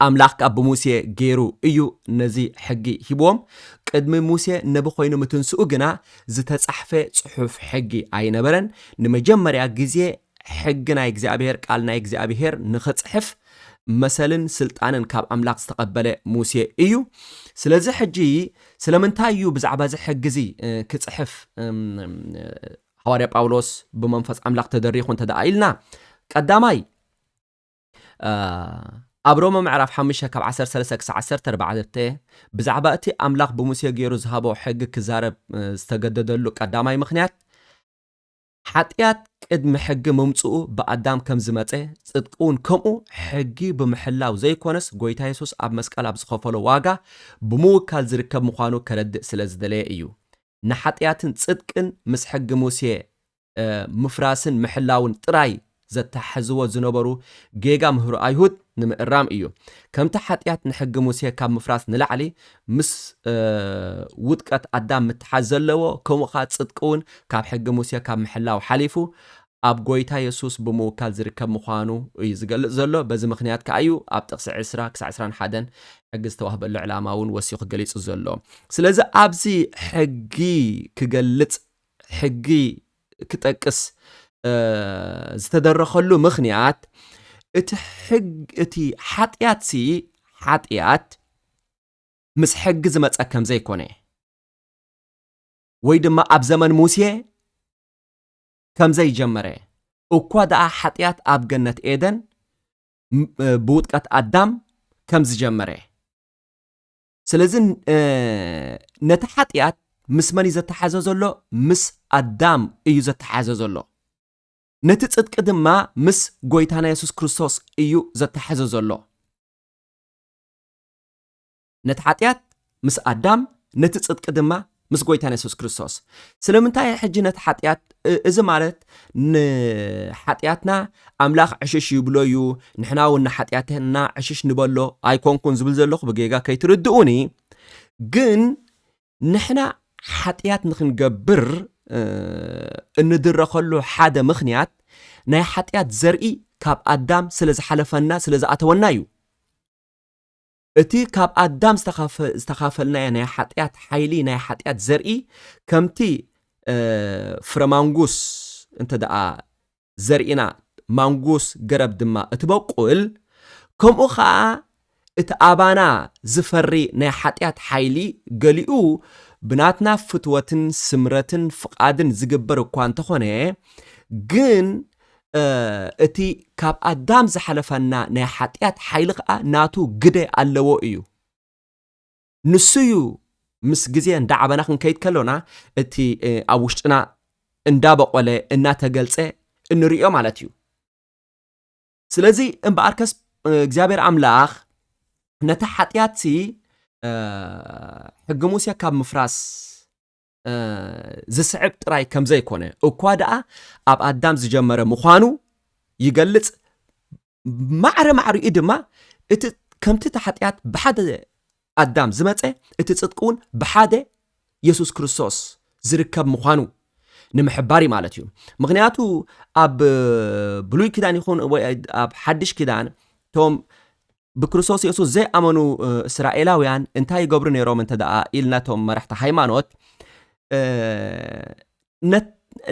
Speaker 2: ኣምላኽ ከኣ ብሙሴ ገይሩ እዩ ነዚ ሕጊ ሂብዎም። ቅድሚ ሙሴ ነቢ ኮይኑ ምትንስኡ ግና ዝተጻሕፈ ጽሑፍ ሕጊ ኣይነበረን። ንመጀመርያ ግዜ ሕጊ ናይ እግዚኣብሄር ቃል ናይ እግዚኣብሄር ንኽጽሕፍ መሰልን ስልጣንን ካብ ኣምላኽ ዝተቐበለ ሙሴ እዩ። ስለዚ ሕጂ ስለምንታይ እዩ ብዛዕባ እዚ ሕጊ እዚ ክጽሕፍ ሃዋርያ ጳውሎስ ብመንፈስ ኣምላኽ ተደሪኹ እንተ ደኣ ኢልና ቀዳማይ ኣብ ሮመ ምዕራፍ 5 ካብ 13 ክሳዕ 14 ብዛዕባ እቲ ኣምላኽ ብሙሴ ገይሩ ዝሃቦ ሕጊ ክዛረብ ዝተገደደሉ ቀዳማይ ምኽንያት ሓጥያት ቅድሚ ሕጊ ምምጽኡ ብኣዳም ከም ዝመጸ ጽድቂውን ከምኡ ሕጊ ብምሕላው ዘይኮነስ ጎይታ የሱስ ኣብ መስቀል ኣብ ዝኸፈሎ ዋጋ ብምውካል ዝርከብ ምዃኑ ከረድእ ስለ ዝደለየ እዩ ንሓጥያትን ጽድቅን ምስ ሕጊ ሙሴ ምፍራስን ምሕላውን ጥራይ ዘተሓሕዝዎ ዝነበሩ ጌጋ ምህሮ ኣይሁድ ንምእራም እዩ። ከምቲ ሓጢኣት ንሕጊ ሙሴ ካብ ምፍራስ ንላዕሊ ምስ ውድቀት ኣዳም ምትሓዝ ዘለዎ፣ ከምኡ ኸኣ ጽድቂ እውን ካብ ሕጊ ሙሴ ካብ ምሕላው ሓሊፉ ኣብ ጐይታ የሱስ ብምውካል ዝርከብ ምዃኑ እዩ ዝገልጽ ዘሎ። በዚ ምኽንያት ከኣ እዩ ኣብ ጥቕሲ ዕስራ ክሳዕ ዕስራን ሓደን ሕጊ ዝተዋህበሉ ዕላማ እውን ወሲኹ ገሊጹ ዘሎ። ስለዚ ኣብዚ ሕጊ ክገልጽ ሕጊ ክጠቅስ ዝተደረኸሉ ምኽንያት እቲ ሕግ እቲ ሓጢኣት ሲ ሓጢኣት ምስ ሕጊ ዝመፀ ከም ዘይኮነ ወይ ድማ ኣብ ዘመን ሙሴ ከም ዘይጀመረ እኳ ደኣ ሓጢኣት ኣብ ገነት ኤደን ብውጥቀት ኣዳም ከም ዝጀመረ ስለዚ ነቲ ሓጢኣት ምስ መን እዩ ዘተሓዘ ዘሎ? ምስ ኣዳም እዩ ዘተሓዘ ዘሎ። ነቲ ጽድቂ ድማ ምስ ጎይታና የሱስ ክርስቶስ እዩ ዘተሓዘ ዘሎ። ነቲ ሓጢኣት ምስ ኣዳም፣ ነቲ ጽድቂ ድማ ምስ ጎይታና የሱስ ክርስቶስ። ስለምንታይ ሕጂ ነቲ ሓጢኣት እዚ ማለት ንሓጢኣትና ኣምላኽ ዕሽሽ ይብሎ እዩ፣ ንሕና እውን ንሓጢኣትና ዕሽሽ ንበሎ ኣይኮንኩን ዝብል ዘለኹ ብጌጋ ከይትርድኡኒ። ግን ንሕና ሓጢኣት ንክንገብር እንድረኸሉ ሓደ ምክንያት ናይ ሓጢኣት ዘርኢ ካብ ኣዳም ስለ ዝሓለፈና ስለ ዝኣተወና እዩ። እቲ ካብ ኣዳም ዝተኻፈልናዮ ናይ ሓጢኣት ሓይሊ ናይ ሓጢኣት ዘርኢ ከምቲ ፍረ ማንጉስ እንተ ደኣ ዘርኢና ማንጉስ ገረብ ድማ እትበቁል ከምኡ ኸኣ እቲ ኣባና ዝፈሪ ናይ ሓጢኣት ሓይሊ ገሊኡ ብናትና ፍትወትን ስምረትን ፍቓድን ዝግበር እኳ እንተኾነ ግን እቲ ካብ ኣዳም ዝሓለፈና ናይ ሓጢኣት ሓይሊ ከኣ ናቱ ግደ ኣለዎ እዩ። ንሱ እዩ ምስ ግዜ እንዳዓበና ክንከይድ ከሎና እቲ ኣብ ውሽጥና እንዳበቖለ እናተገልጸ እንርእዮ ማለት እዩ። ስለዚ እምበኣርከስ እግዚኣብሔር ኣምላኽ ነቲ ሓጢኣትሲ ሕጊ ሙሴ ካብ ምፍራስ ዝስዕብ ጥራይ ከም ዘይኮነ እኳ ደኣ ኣብ ኣዳም ዝጀመረ ምዃኑ ይገልጽ ማዕረ ማዕሪኡ ድማ እቲ ከምቲ እቲ ሓጢኣት ብሓደ ኣዳም ዝመፀ እቲ ፅድቂ እውን ብሓደ የሱስ ክርስቶስ ዝርከብ ምዃኑ ንምሕባር እዩ ማለት እዩ ምክንያቱ ኣብ ብሉይ ኪዳን ይኹን ወይ ኣብ ሓድሽ ኪዳን እቶም ብክርስቶስ የሱስ ዘይኣመኑ እስራኤላውያን እንታይ ይገብሩ ነይሮም እንተ ደኣ ኢልና እቶም መራሕቲ ሃይማኖት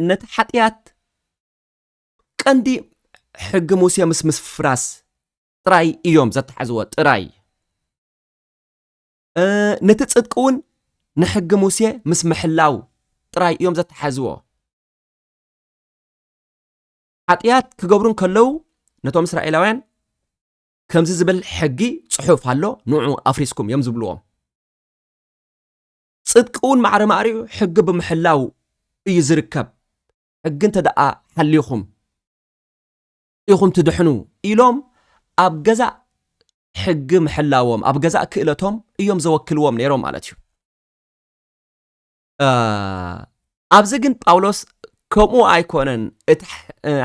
Speaker 2: ነቲ ሓጢኣት ቀንዲ ሕጊ ሙሴ ምስ ምስፍራስ ጥራይ እዮም ዘተሓዝዎ ጥራይ ነቲ ፅድቂ እውን ንሕጊ ሙሴ ምስ ምሕላው ጥራይ እዮም ዘተሓዝዎ ሓጢኣት ክገብሩ ከለዉ ነቶም እስራኤላውያን ከምዚ ዝብል ሕጊ ጽሑፍ ኣሎ ንዑ ኣፍሪስኩም እዮም ዝብልዎም ጽድቂ እውን ማዕረ ማዕሪኡ ሕጊ ብምሕላው እዩ ዝርከብ ሕጊ እንተ ደኣ ሓሊኹም ኢኹም ትድሕኑ ኢሎም ኣብ ገዛእ ሕጊ ምሕላዎም ኣብ ገዛእ ክእለቶም እዮም ዘወክልዎም ነይሮም ማለት እዩ ኣብዚ ግን ጳውሎስ ከምኡ ኣይኮነን እቲ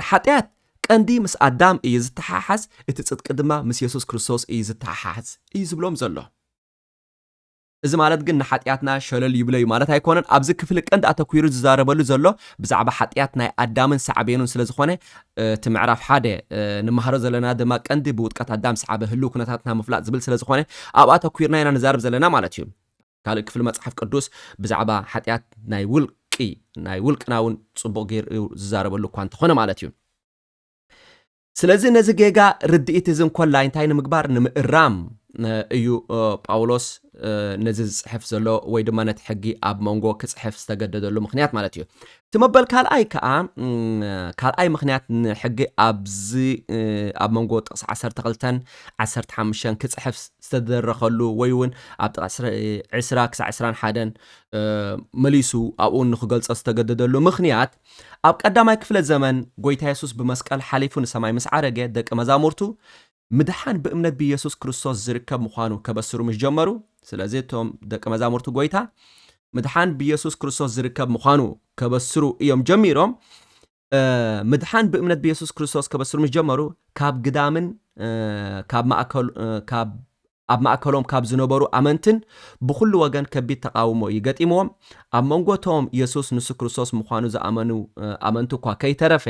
Speaker 2: ሓጢኣት ቀንዲ ምስ ኣዳም እዩ ዝተሓሓዝ እቲ ፅድቂ ድማ ምስ የሱስ ክርስቶስ እዩ ዝተሓሓዝ እዩ ዝብሎም ዘሎ እዚ ማለት ግን ንሓጢኣትና ሸለል ይብለ እዩ ማለት ኣይኮነን ኣብዚ ክፍሊ ቀንዲ ኣተኲሩ ዝዛረበሉ ዘሎ ብዛዕባ ሓጢኣት ናይ ኣዳምን ሳዕቤኑን ስለ ዝኾነ እቲ ምዕራፍ ሓደ ንመሃሮ ዘለና ድማ ቀንዲ ብውጥቀት ኣዳም ሰዓበ ህልው ኩነታትና ምፍላጥ ዝብል ስለ ዝኾነ ኣብ ኣተኲርና ኢና ንዛርብ ዘለና ማለት እዩ ካልእ ክፍሊ መጽሓፍ ቅዱስ ብዛዕባ ሓጢኣት ናይ ውልቂ ናይ ውልቅና እውን ጽቡቕ ገይሩ እዩ ዝዛረበሉ እኳ እንተኾነ ማለት እዩ። ስለዚ ነዚ ጌጋ ርድኢት እዚ እንኮላይ እንታይ ንምግባር ንምእራም እዩ ጳውሎስ ነዚ ዝጽሕፍ ዘሎ ወይ ድማ ነቲ ሕጊ ኣብ መንጎ ክጽሕፍ ዝተገደደሉ ምክንያት ማለት እዩ። እቲ መበል ካልኣይ ከኣ ካልኣይ ምኽንያት ንሕጊ ኣብዚ ኣብ መንጎ ጥቕሲ ዓሰርተ ክልተን ዓሰርተ ሓሙሽተን ክጽሕፍ ዝተደረኸሉ ወይ እውን ኣብ ጥቕሲ ዕስራ ክሳዕ ዕስራን ሓደን መሊሱ ኣብኡ ንክገልጾ ዝተገደደሉ ምኽንያት ኣብ ቀዳማይ ክፍለ ዘመን ጎይታ የሱስ ብመስቀል ሓሊፉ ንሰማይ ምስ ዓረገ ደቂ መዛሙርቱ ምድሓን ብእምነት ብየሱስ ክርስቶስ ዝርከብ ምዃኑ ከበስሩ ምስ ጀመሩ፣ ስለዚ እቶም ደቀ መዛሙርቲ ጎይታ ምድሓን ብየሱስ ክርስቶስ ዝርከብ ምዃኑ ከበስሩ እዮም ጀሚሮም። ምድሓን ብእምነት ብየሱስ ክርስቶስ ከበስሩ ምስ ጀመሩ ካብ ግዳምን ካብ ኣብ ማእከሎም ካብ ዝነበሩ ኣመንትን ብኹሉ ወገን ከቢድ ተቓውሞ እዩ ገጢምዎም። ኣብ መንጎ እቶም የሱስ ንሱ ክርስቶስ ምዃኑ ዝኣመኑ ኣመንቲ እኳ ከይተረፈ፣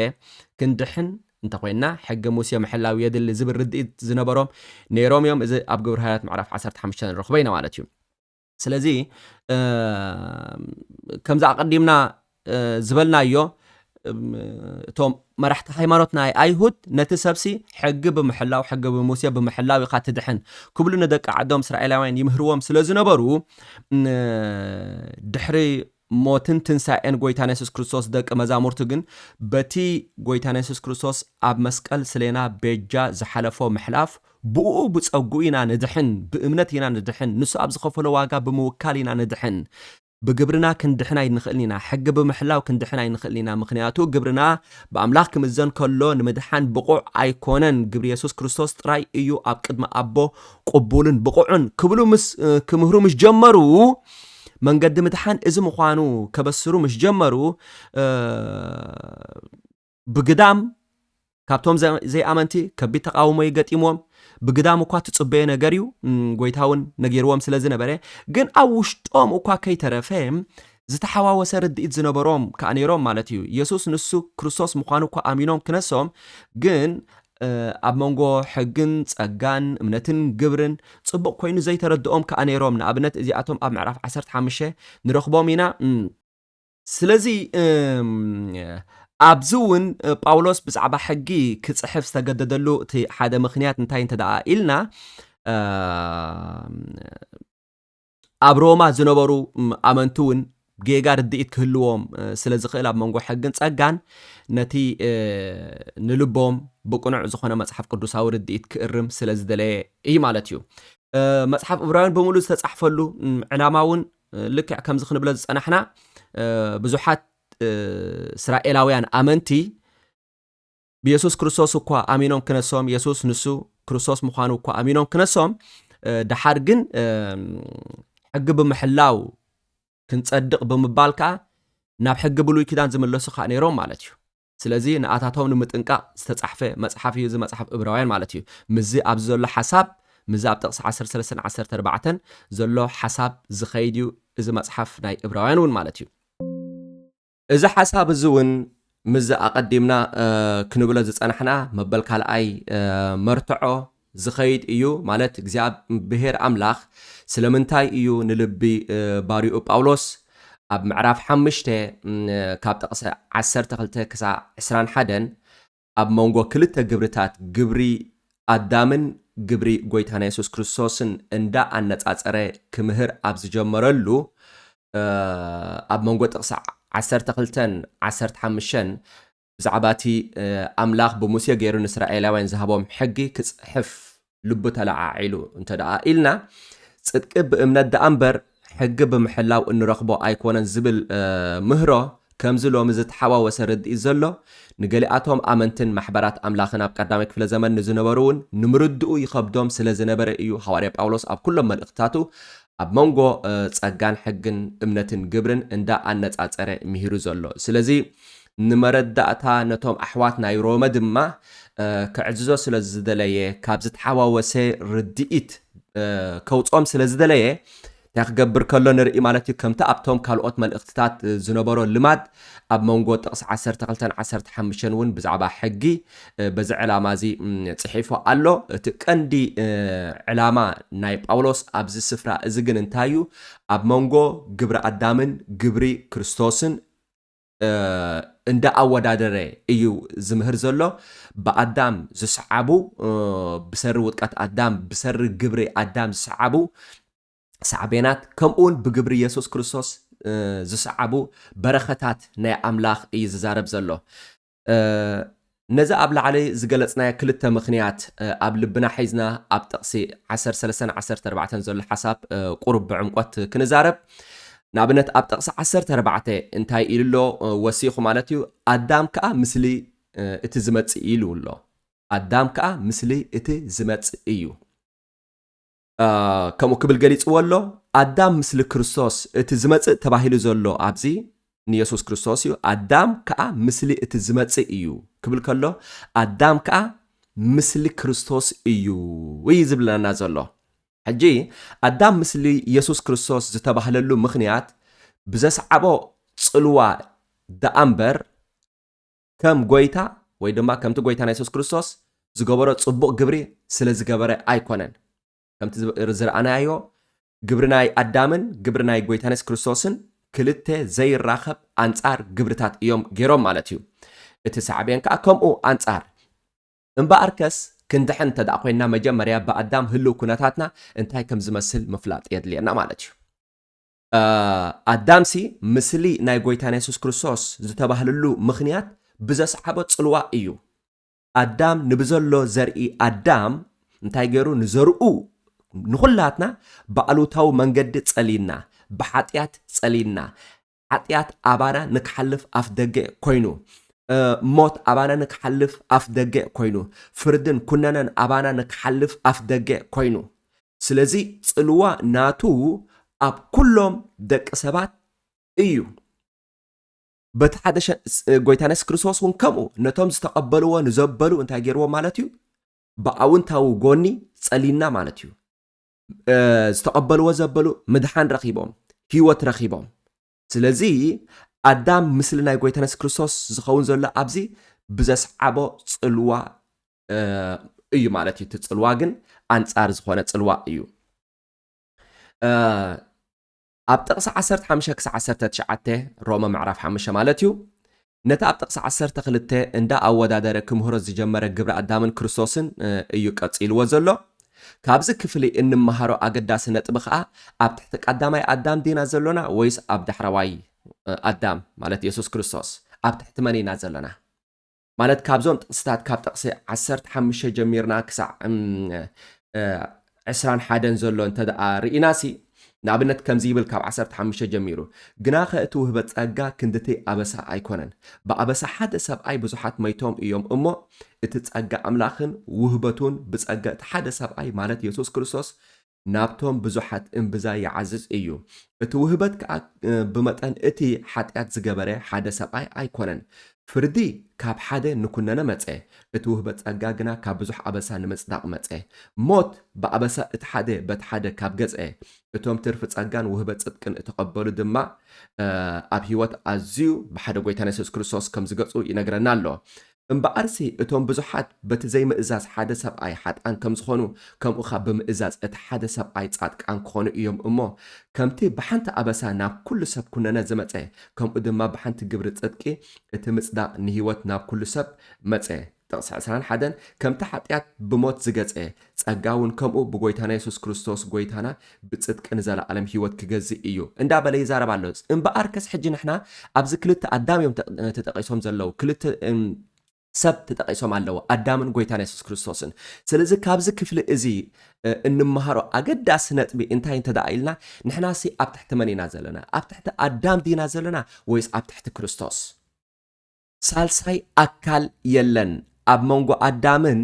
Speaker 2: ክንድሕን እንተ ዄንና ሕጊ ሙሴ ምሕላው የድሊ ዝብል ርድኢት ዝነበሮም ነይሮም እዮም። እዚ ኣብ ግብረ ሃዋርያት ምዕራፍ ዓሰርተ ሓሙሽተ ንረኽቦ ኢና ማለት እዩ። ስለዚ ከምዚ ኣቐዲምና ዝበልናዮ እቶም መራሕቲ ሃይማኖት ናይ ኣይሁድ ነቲ ሰብሲ ሕጊ ብምሕላው ሕጊ ብሙሴ ብምሕላው ኢኻ ትድሕን ክብሉ ንደቂ ዓዶም እስራኤላውያን ይምህርዎም ስለ ዝነበሩ ድሕሪ ሞትን ትንሳኤን ጎይታና የሱስ ክርስቶስ ደቂ መዛሙርቱ ግን በቲ ጎይታና የሱስ ክርስቶስ ኣብ መስቀል ስሌና ቤጃ ዝሓለፎ ምሕላፍ ብኡኡ ብጸግኡ ኢና ንድሕን ብእምነት ኢና ንድሕን ንሱ ኣብ ዝኸፈሎ ዋጋ ብምውካል ኢና ንድሕን ብግብርና ክንድሕን ኣይንኽእልን ኢና ሕጊ ብምሕላው ክንድሕን ኣይንኽእልን ኢና ምኽንያቱ ግብርና ብኣምላኽ ክምዘን ከሎ ንምድሓን ብቑዕ ኣይኮነን ግብሪ የሱስ ክርስቶስ ጥራይ እዩ ኣብ ቅድሚ ኣቦ ቁቡልን ብቑዑን ክብሉ ምስ ክምህሩ ምስ ጀመሩ መንገዲ ምድሓን እዚ ምዃኑ ከበስሩ ምስ ጀመሩ ብግዳም ካብቶም ዘይኣመንቲ ከቢድ ተቃውሞ እዩ ገጢምዎም ብግዳም እኳ ትጽበዮ ነገር እዩ ጎይታ እውን ነጊርዎም ስለ ዝነበረ ግን ኣብ ውሽጦም እኳ ከይተረፈ ዝተሓዋወሰ ርድኢት ዝነበሮም ከዓ ነይሮም ማለት እዩ የሱስ ንሱ ክርስቶስ ምዃኑ እኳ ኣሚኖም ክነሶም ግን ኣብ መንጎ ሕግን ጸጋን፣ እምነትን ግብርን፣ ጽቡቕ ኮይኑ ዘይተረድኦም ከኣ ነይሮም፣ ንኣብነት እዚኣቶም ኣብ ምዕራፍ ዓሰርተ ሓሙሽተ ንረኽቦም ኢና፣ እም። ስለዚ ኣብዚ እውን ጳውሎስ ብዛዕባ ሕጊ ክጽሕፍ ዝተገደደሉ እቲ ሓደ ምኽንያት እንታይ እንተደኣ ኢልና፣ ኣብ ሮማ ዝነበሩ ኣመንቲ እውን ጌጋ ርድኢት ክህልዎም ስለ ዝኽእል ኣብ መንጎ ሕግን ጸጋን ነቲ ንልቦም ብቅኑዕ ዝኾነ መጽሓፍ ቅዱሳዊ ርድኢት ክእርም ስለ ዝደለየ እዩ ማለት እዩ። መጽሓፍ እብራውያን ብምሉእ ዝተጻሕፈሉ ዕላማ እውን ልክዕ ከምዚ ክንብሎ ዝጸናሕና ብዙሓት እስራኤላውያን ኣመንቲ ብየሱስ ክርስቶስ እኳ ኣሚኖም ክነሶም የሱስ ንሱ ክርስቶስ ምዃኑ እኳ ኣሚኖም ክነሶም ደሓር ግን ሕጊ ብምሕላው ክንጸድቕ ብምባል ከዓ ናብ ሕጊ ብሉይ ኪዳን ዝምለሱ ከዓ ነይሮም ማለት እዩ ስለዚ ንኣታቶም ንምጥንቃቕ ዝተጻሕፈ መጽሓፍ እዩ እዚ መጽሓፍ እብራውያን ማለት እዩ ምዚ ኣብዚ ዘሎ ሓሳብ ምዚ ኣብ ጥቕሲ 13 14 ዘሎ ሓሳብ ዝኸይድ እዩ እዚ መጽሓፍ ናይ እብራውያን እውን ማለት እዩ እዚ ሓሳብ እዚ እውን ምስዚ ኣቐዲምና ክንብሎ ዝጸናሕና መበል ካልኣይ መርትዖ ዝኸይድ እዩ፣ ማለት እግዚኣብሔር ኣምላኽ ስለምንታይ እዩ ንልቢ ባርይኡ ጳውሎስ ኣብ ምዕራፍ ሓምሽተ ካብ ጥቕሲ ዓሰርተ ክልተ ክሳዕ ዕስራን ሓደን ኣብ መንጎ ክልተ ግብርታት ግብሪ ኣዳምን ግብሪ ጎይታና የሱስ ክርስቶስን እንዳ ኣነጻጸረ ክምህር ኣብ ዝጀመረሉ ኣብ መንጎ ጥቕሲ ዓሰርተ ክልተን ዓሰርተ ሓምሸን ብዛዕባ እቲ ኣምላኽ ብሙሴ ገይሩ ንእስራኤላውያን ዝሃቦም ሕጊ ክጽሕፍ ልቡ ተለዓዒሉ እንተ ደኣ ኢልና፣ ጽድቂ ብእምነት ደኣ እምበር ሕጊ ብምሕላው እንረኽቦ ኣይኮነን ዝብል ምህሮ ከምዚ ሎሚ ዝተሓዋወሰ ርድኢት ዘሎ ንገሊኣቶም ኣመንትን ማሕበራት ኣምላኽን ኣብ ቀዳማይ ክፍለ ዘመን ንዝነበሩውን ንምርድኡ ይኸብዶም ስለ ዝነበረ ኢዩ ሃዋርያ ጳውሎስ ኣብ ኩሎም መልእኽትታቱ ኣብ መንጎ ጸጋን ሕግን እምነትን ግብርን እንዳ ኣነጻጸረ ምሂሩ ዘሎ ስለዚ ንመረዳእታ ነቶም ኣሕዋት ናይ ሮመ ድማ ክዕዝዞ ስለ ዝደለየ ካብ ዝተሓዋወሰ ርድኢት ከውጾም ስለ ዝደለየ እንታይ ክገብር ከሎ ንርኢ ማለት እዩ ከምቲ ኣብቶም ካልኦት መልእኽትታት ዝነበሮ ልማድ ኣብ መንጎ ጥቕሲ ዓሰርተ ክልተን ዓሰርተ ሓሙሽተን እውን ብዛዕባ ሕጊ በዚ ዕላማ እዚ ጽሒፉ ኣሎ። እቲ ቀንዲ ዕላማ ናይ ጳውሎስ ኣብዚ ስፍራ እዚ ግን እንታይ እዩ? ኣብ መንጎ ግብሪ ኣዳምን ግብሪ ክርስቶስን እንዳ ኣወዳደረ እዩ ዝምህር ዘሎ። ብኣዳም ዝሰዓቡ፣ ብሰሪ ውድቀት ኣዳም፣ ብሰሪ ግብሪ ኣዳም ዝሰዓቡ ሳዕቤናት ከምኡውን ብግብሪ የሱስ ክርስቶስ ዝሰዓቡ በረኸታት ናይ ኣምላኽ እዩ ዝዛረብ ዘሎ። ነዚ ኣብ ላዕሊ ዝገለጽናዮ ክልተ ምኽንያት ኣብ ልብና ሒዝና ኣብ ጥቕሲ 13 14 ዘሎ ሓሳብ ቁሩብ ብዕምቆት ክንዛረብ ንኣብነት ኣብ ጥቕሲ 14 እንታይ ኢሉ ኣሎ ወሲኹ ማለት እዩ ኣዳም ከዓ ምስሊ እቲ ዝመፅእ ኢሉ ኣሎ ኣዳም ከዓ ምስሊ እቲ ዝመፅእ እዩ ከምኡ ክብል ገሊጽዎ ኣሎ ኣዳም ምስሊ ክርስቶስ እቲ ዝመጽእ ተባሂሉ ዘሎ ኣብዚ ንየሱስ ክርስቶስ እዩ ኣዳም ከዓ ምስሊ እቲ ዝመጽእ እዩ ክብል ከሎ ኣዳም ከዓ ምስሊ ክርስቶስ እዩ እዩ ዝብለና ዘሎ ሕጂ ኣዳም ምስሊ የሱስ ክርስቶስ ዝተባህለሉ ምኽንያት ብዘስዓቦ ጽልዋ ደኣ እምበር ከም ጎይታ ወይ ድማ ከምቲ ጎይታና የሱስ ክርስቶስ ዝገበሮ ጽቡቕ ግብሪ ስለ ዝገበረ ኣይኮነን። ከምቲ ዝረኣናዮ ግብሪ ናይ ኣዳምን ግብሪ ናይ ጎይታና የሱስ ክርስቶስን ክልተ ዘይራኸብ ኣንጻር ግብርታት እዮም ገይሮም ማለት እዩ። እቲ ሳዕቤን ከኣ ከምኡ ኣንጻር እምበኣርከስ ክንድሕን እንተ ደኣ ኮይንና መጀመርያ ብኣዳም ህልው ኩነታትና እንታይ ከም ዝመስል ምፍላጥ የድልየና ማለት እዩ። ኣዳምሲ ምስሊ ናይ ጎይታና የሱስ ክርስቶስ ዝተባህልሉ ምኽንያት ብዘስዓቦ ጽልዋ እዩ። ኣዳም ንብዘሎ ዘርኢ ኣዳም እንታይ ገይሩ ንዘርኡ ንኹላትና ብኣሉታዊ መንገዲ ጸልዩና፣ ብሓጢኣት ጸልዩና፣ ሓጢኣት ኣባና ንክሓልፍ ኣፍደገ ኮይኑ፣ ሞት ኣባና ንክሓልፍ ኣፍደገ ኮይኑ፣ ፍርድን ኩነነን ኣባና ንክሓልፍ ኣፍደገ ኮይኑ፣ ስለዚ ጽልዋ ናቱ ኣብ ኩሎም ደቂ ሰባት እዩ። በቲ ሓደ ሸ- ስ- ጎይታና የሱስ ክርስቶስ እውን ከምኡ ነቶም ዝተቐበልዎ ንዘበሉ እንታይ ገይርዎ ማለት እዩ ብኣውንታዊ ጎኒ ጸሊና ማለት እዩ እ፣ ዝተቐበልዎ ዘበሉ ምድሓን ረኺቦም ህይወት ረኺቦም ስለዚ ኣዳም ምስሊ ናይ ጎይታና የሱስ ክርስቶስ ዝኸውን ዘሎ ኣብዚ ብዘስዓቦ ጽልዋ እዩ ማለት እዩ እቲ ፅልዋ ግን ኣንፃር ዝኾነ ፅልዋ እዩ ኣብ ጥቕሲ 15 ክሳዕ 19 ሮመ ምዕራፍ 5 ማለት እዩ ነቲ ኣብ ጥቕሲ 12 እንዳ ኣወዳደረ ክምህሮ ዝጀመረ ግብሪ ኣዳምን ክርስቶስን እዩ ቀፂልዎ ዘሎ ካብዚ ክፍሊ እንመሃሮ ኣገዳሲ ነጥቢ ከዓ ኣብ ትሕቲ ቀዳማይ ኣዳም ዲና ዘሎና ወይስ ኣብ ዳሕረዋይ ኣዳም ማለት የሱስ ክርስቶስ ኣብ ትሕቲ መን ኢና ዘለና ማለት ካብዞም ጥቕስታት ካብ ጥቕሲ ዓሰርተ ሓሙሽተ ጀሚርና ክሳዕ ዕስራን ሓደን ዘሎ እንተ ደኣ ርኢናሲ ንኣብነት ከምዚ ይብል ካብ 15 ጀሚሩ ግናኸ እቲ ውህበ ጸጋ ክንድቲ ኣበሳ ኣይኮነን ብኣበሳ ሓደ ሰብኣይ ብዙሓት መይቶም እዮም እሞ እቲ ጸጋ ኣምላኽን ውህበቱን ብጸጋ እቲ ሓደ ሰብኣይ ማለት የሱስ ክርስቶስ ናብቶም ብዙሓት እምብዛ ይዓዝዝ እዩ። እቲ ውህበት ከኣ ብመጠን እቲ ሓጢኣት ዝገበረ ሓደ ሰብኣይ ኣይኮነን። ፍርዲ ካብ ሓደ ንኩነነ መጸ፣ እቲ ውህበት ጸጋ ግና ካብ ብዙሕ ኣበሳ ንምጽዳቕ መጸ። ሞት ብኣበሳ እቲ ሓደ በቲ ሓደ ካብ ገዝኤ፣ እቶም ትርፊ ጸጋን ውህበት ጽድቅን እተቐበሉ ድማ ኣብ ሕይወት ኣዝዩ ብሓደ ጎይታና የሱስ ክርስቶስ ከም ዝገጹ ይነግረና ኣሎ። እምበኣርሲ እቶም ብዙሓት በቲ ዘይምእዛዝ ሓደ ሰብኣይ ሓጥኣን ከም ዝዀኑ፣ ከምኡ ኸኣ ብምእዛዝ እቲ ሓደ ሰብኣይ ጻድቃን ክዀኑ እዮም እሞ፣ ከምቲ ብሓንቲ ኣበሳ ናብ ኵሉ ሰብ ኵነኔ ዝመጸ፣ ከምኡ ድማ ብሓንቲ ግብሪ ጽድቂ እቲ ምጽዳቕ ንህይወት ናብ ኵሉ ሰብ መጸ። ጥቕሲ ዕስራን ሓደን ከምቲ ሓጢኣት ብሞት ዝገጸ፣ ጸጋ እውን ከምኡ ብጎይታና የሱስ ክርስቶስ ጎይታና ብጽድቂ ንዘለኣለም ህይወት ክገዝእ እዩ እንዳ በለ ይዛረብ ኣሎ እምበኣርከስ ሕጂ ንሕና ኣብዚ ክልተ ኣዳም እዮም ተጠቂሶም ዘለው ክልተ ሰብ ተጠቂሶም ኣለው ኣዳምን ጎይታና የሱስ ክርስቶስን ስለዚ ካብዚ ክፍሊ እዚ እንመሃሮ ኣገዳሲ ነጥቢ እንታይ እንተ ደኣ ኢልና ንሕናሲ ኣብ ትሕቲ መን ኢና ዘለና ኣብ ትሕቲ ኣዳም ዲና ዘለና ወይስ ኣብ ትሕቲ ክርስቶስ ሳልሳይ ኣካል የለን ኣብ መንጎ ኣዳምን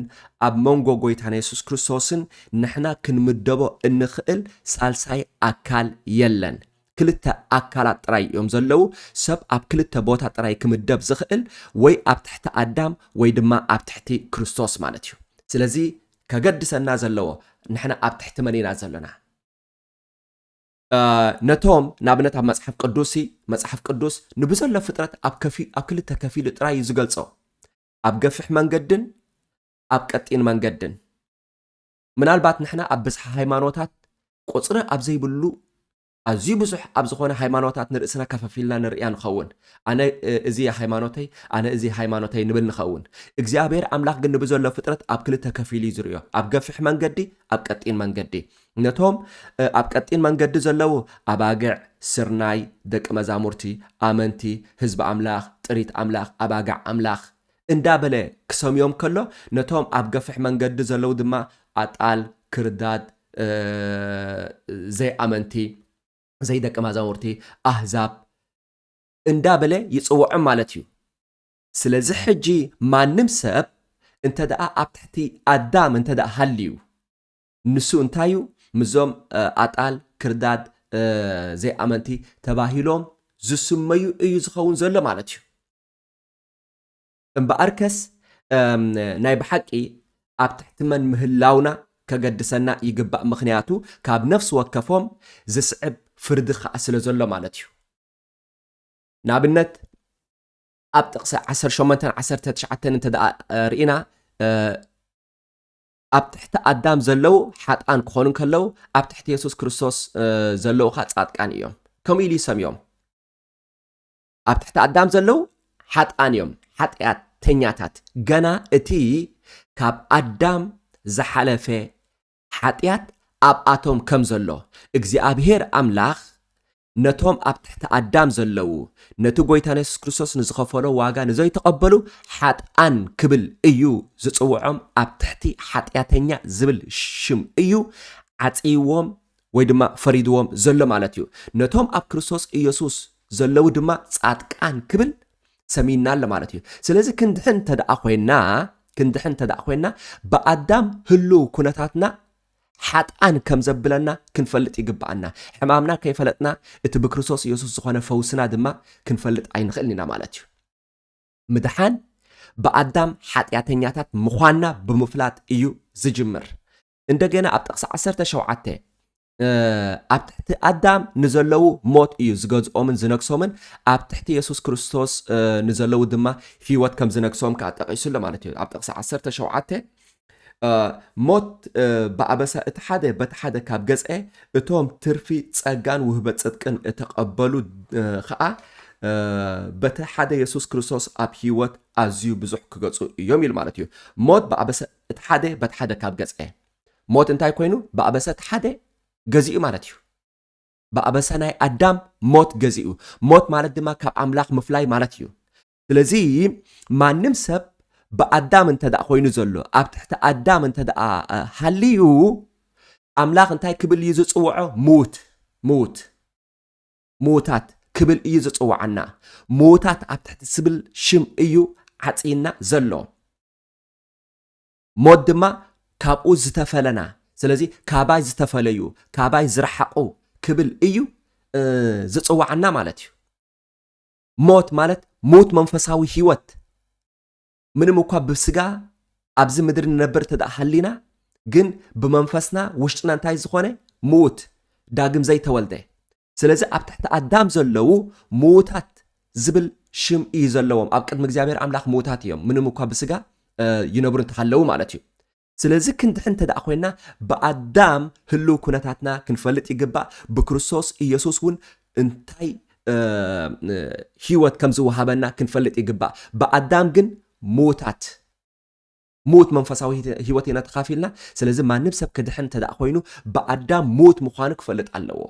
Speaker 2: ኣብ መንጎ ጎይታና የሱስ ክርስቶስን ንሕና ክንምደቦ እንኽእል ሳልሳይ ኣካል የለን። ክልተ ኣካላት ጥራይ እዮም ዘለዉ፣ ሰብ ኣብ ክልተ ቦታ ጥራይ ክምደብ ዝኽእል ወይ ኣብ ትሕቲ ኣዳም ወይ ድማ ኣብ ትሕቲ ክርስቶስ ማለት እዩ። ስለዚ ከገድሰና ዘለዎ ንሕና ኣብ ትሕቲ መን ኢና ዘሎና? ነቶም ንኣብነት ኣብ መጽሓፍ ቅዱስ ሲ መጽሓፍ ቅዱስ ንብዘሎ ፍጥረት ኣብ ከፊ ኣብ ክልተ ከፊሉ ጥራይ እዩ ዝገልጾ ኣብ ገፍሕ መንገድን ኣብ ቀጢን መንገድን ምናልባት ንሕና ኣብ ብዝሓ ሃይማኖታት ቁፅሪ ኣብ ዘይብሉ ኣዝዩ ብዙሕ ኣብ ዝኾነ ሃይማኖታት ንርእስና ከፈፊልና ንርእያ ንኸውን ኣነ እዚ ሃይማኖተይ ኣነ እዚ ሃይማኖተይ ንብል ንኸውን እግዚኣብሔር ኣምላኽ ግን ንብዘሎ ፍጥረት ኣብ ክልተ ከፊሉ እዩ ዝርእዮ ኣብ ገፍሕ መንገዲ ኣብ ቀጢን መንገዲ ነቶም ኣብ ቀጢን መንገዲ ዘለዉ ኣባግዕ፣ ስርናይ፣ ደቂ መዛሙርቲ፣ ኣመንቲ፣ ህዝቢ ኣምላኽ፣ ጥሪት ኣምላኽ፣ ኣባግዕ ኣምላኽ፣ እንዳ በለ ክሰምዮም ከሎ፣ ነቶም ኣብ ገፍሕ መንገዲ ዘለዉ ድማ ኣጣል፣ ክርዳድ፣ ዘይኣመንቲ፣ ዘይደቂ ማዛሙርቲ፣ ኣህዛብ፣ እንዳ በለ ይጽውዖም ማለት እዩ። ስለዚ ሕጂ ማንም ሰብ እንተደኣ ኣብ ትሕቲ ኣዳም እንተደኣ ሃልዩ፣ ንሱ እንታይ እዩ ምስዞም ኣጣል፣ ክርዳድ፣ ዘይኣመንቲ ተባሂሎም ዝስመዩ እዩ ዝኸውን ዘሎ ማለት እዩ። እምበኣርከስ ናይ ብሓቂ ኣብ ትሕቲ መን ምህላውና ከገድሰና ይግባእ፣ ምኽንያቱ ካብ ነፍሲ ወከፎም ዝስዕብ ፍርዲ ከኣ ስለ ዘሎ ማለት እዩ። ንኣብነት ኣብ ጥቕሲ ዓሰርተ ሸሞንተን ዓሰርተ ትሽዓተን እንተደኣ ርኢና ኣብ ትሕቲ ኣዳም ዘለዉ ሓጥኣን ክኾኑ እንከለዉ ኣብ ትሕቲ የሱስ ክርስቶስ ዘለዉ ኸ ጻድቃን እዮም ከምኡ ኢሉ ይሰምዮም ኣብ ትሕቲ ኣዳም ዘለዉ ሓጥኣን እዮም ሓጢኣተኛታት ገና እቲ ካብ ኣዳም ዝሓለፈ ሓጢኣት ኣብኣቶም ከም ዘሎ እግዚኣብሄር ኣምላኽ ነቶም ኣብ ትሕቲ ኣዳም ዘለዉ ነቲ ጎይታና የሱስ ክርስቶስ ንዝኸፈሎ ዋጋ ንዘይተቐበሉ ሓጥኣን ክብል እዩ ዝጽውዖም ኣብ ትሕቲ ሓጢኣተኛ ዝብል ሽም እዩ ዓጽይዎም ወይ ድማ ፈሪድዎም ዘሎ ማለት እዩ ነቶም ኣብ ክርስቶስ ኢየሱስ ዘለዉ ድማ ጻድቃን ክብል ሰሚና ኣሎ ማለት እዩ ስለዚ ክንድሕን ተደኣ ኮይና ክንድሕን ተደኣ ኮይና ብኣዳም ህልው ኩነታትና ሓጥኣን ከም ዘብለና ክንፈልጥ ይግብኣና። ሕማምና ከይፈለጥና እቲ ብክርስቶስ ኢየሱስ ዝኾነ ፈውስና ድማ ክንፈልጥ ኣይንኽእልን ኢና ማለት እዩ። ምድሓን ብኣዳም ሓጢኣተኛታት ምዃንና ብምፍላጥ እዩ ዝጅምር። እንደገና ኣብ ጥቕሲ ዓሰርተ ሸውዓተ ኣብ ትሕቲ ኣዳም ንዘለዉ ሞት እዩ ዝገዝኦምን ዝነግሶምን ኣብ ትሕቲ የሱስ ክርስቶስ ንዘለዉ ድማ ህይወት ከም ዝነግሶም ከዓ ጠቂሱ ኣሎ ማለት እዩ ኣብ ጥቕሲ ዓሰርተ ሸውዓተ ሞት ብኣበሳ እቲ ሓደ በቲ ሓደ ካብ ገጸ፣ እቶም ትርፊ ጸጋን ውህበት ጽድቅን እተቐበሉ ኸኣ በቲ ሓደ የሱስ ክርስቶስ ኣብ ህይወት ኣዝዩ ብዙሕ ክገጹ እዮም ኢሉ ማለት እዩ። ሞት ብኣበሳ እቲ ሓደ በቲ ሓደ ካብ ገጸ። ሞት እንታይ ኮይኑ? ብኣበሳ እቲ ሓደ ገዚኡ ማለት እዩ። ብኣበሳ ናይ ኣዳም ሞት ገዚኡ። ሞት ማለት ድማ ካብ ኣምላኽ ምፍላይ ማለት እዩ። ስለዚ ማንም ሰብ ብኣዳም እንተ ደኣ ኮይኑ ዘሎ ኣብ ትሕቲ ኣዳም እንተ ደኣ ሃልዩ ኣምላኽ እንታይ ክብል እዩ ዝፅውዖ ምውት ምውት ምውታት ክብል እዩ ዝፅውዓና ምውታት ኣብ ትሕቲ ዝብል ሽም እዩ ዓፅይና ዘሎ ሞት ድማ ካብኡ ዝተፈለና ስለዚ ካባይ ዝተፈለዩ ካባይ ዝረሓቑ ክብል እዩ ዝፅውዓና ማለት እዩ ሞት ማለት ምዉት መንፈሳዊ ህይወት ምንም እኳ ብስጋ ኣብዚ ምድሪ ንነብር እተ ሃሊና ግን ብመንፈስና ውሽጥና እንታይ ዝኾነ ምዉት ዳግም ዘይተወልደ ስለዚ ኣብ ትሕቲ ኣዳም ዘለዉ ምዉታት ዝብል ሽም እዩ ዘለዎም ኣብ ቅድሚ እግዚኣብሔር ኣምላኽ ምዉታት እዮም ምንም እኳ ብስጋ ይነብሩ እንተሃለዉ ማለት እዩ ስለዚ ክንድሕን እንተድኣ ኮይንና ብኣዳም ህልው ኩነታትና ክንፈልጥ ይግባእ፣ ብክርስቶስ ኢየሱስ እውን እንታይ ህይወት ከም ዝወሃበና ክንፈልጥ ይግባእ። ብኣዳም ግን ምውታት ምውት መንፈሳዊ ህይወት ኢና ተኻፊልና። ስለዚ ማንም ሰብ ክድሕን እንተድኣ ኮይኑ ብኣዳም ምውት ምዃኑ ክፈልጥ ኣለዎ።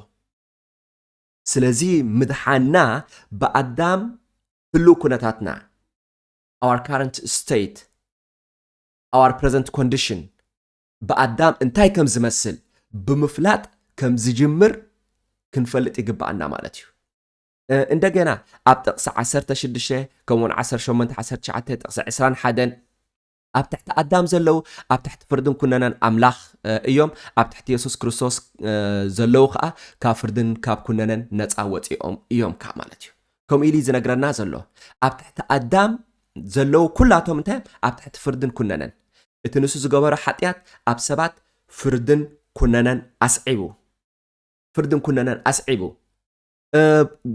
Speaker 2: ስለዚ ምድሓና ብኣዳም ህልው ኩነታትና our current state our present condition ብኣዳም እንታይ ከም ዝመስል ብምፍላጥ ከም ዝጅምር ክንፈልጥ ይግባኣና ማለት እዩ እንደገና ኣብ ጥቕሲ 16 ከምኡውን 18 19 ጥቕሲ 21 ኣብ ትሕቲ ኣዳም ዘለዉ ኣብ ትሕቲ ፍርድን ኩነነን ኣምላኽ እዮም ኣብ ትሕቲ የሱስ ክርስቶስ ዘለዉ ከዓ ካብ ፍርድን ካብ ኩነነን ነፃ ወፂኦም እዮም ከዓ ማለት እዩ ከምኡ ኢሉ ዝነግረና ዘሎ ኣብ ትሕቲ ኣዳም ዘለዉ ኩላቶም እንታይ እዮም ኣብ ትሕቲ ፍርድን ኩነነን እቲ ንሱ ዝገበሮ ሓጢኣት ኣብ ሰባት ፍርድን ኩነነን ኣስዒቡ ፍርድን ኩነነን ኣስዒቡ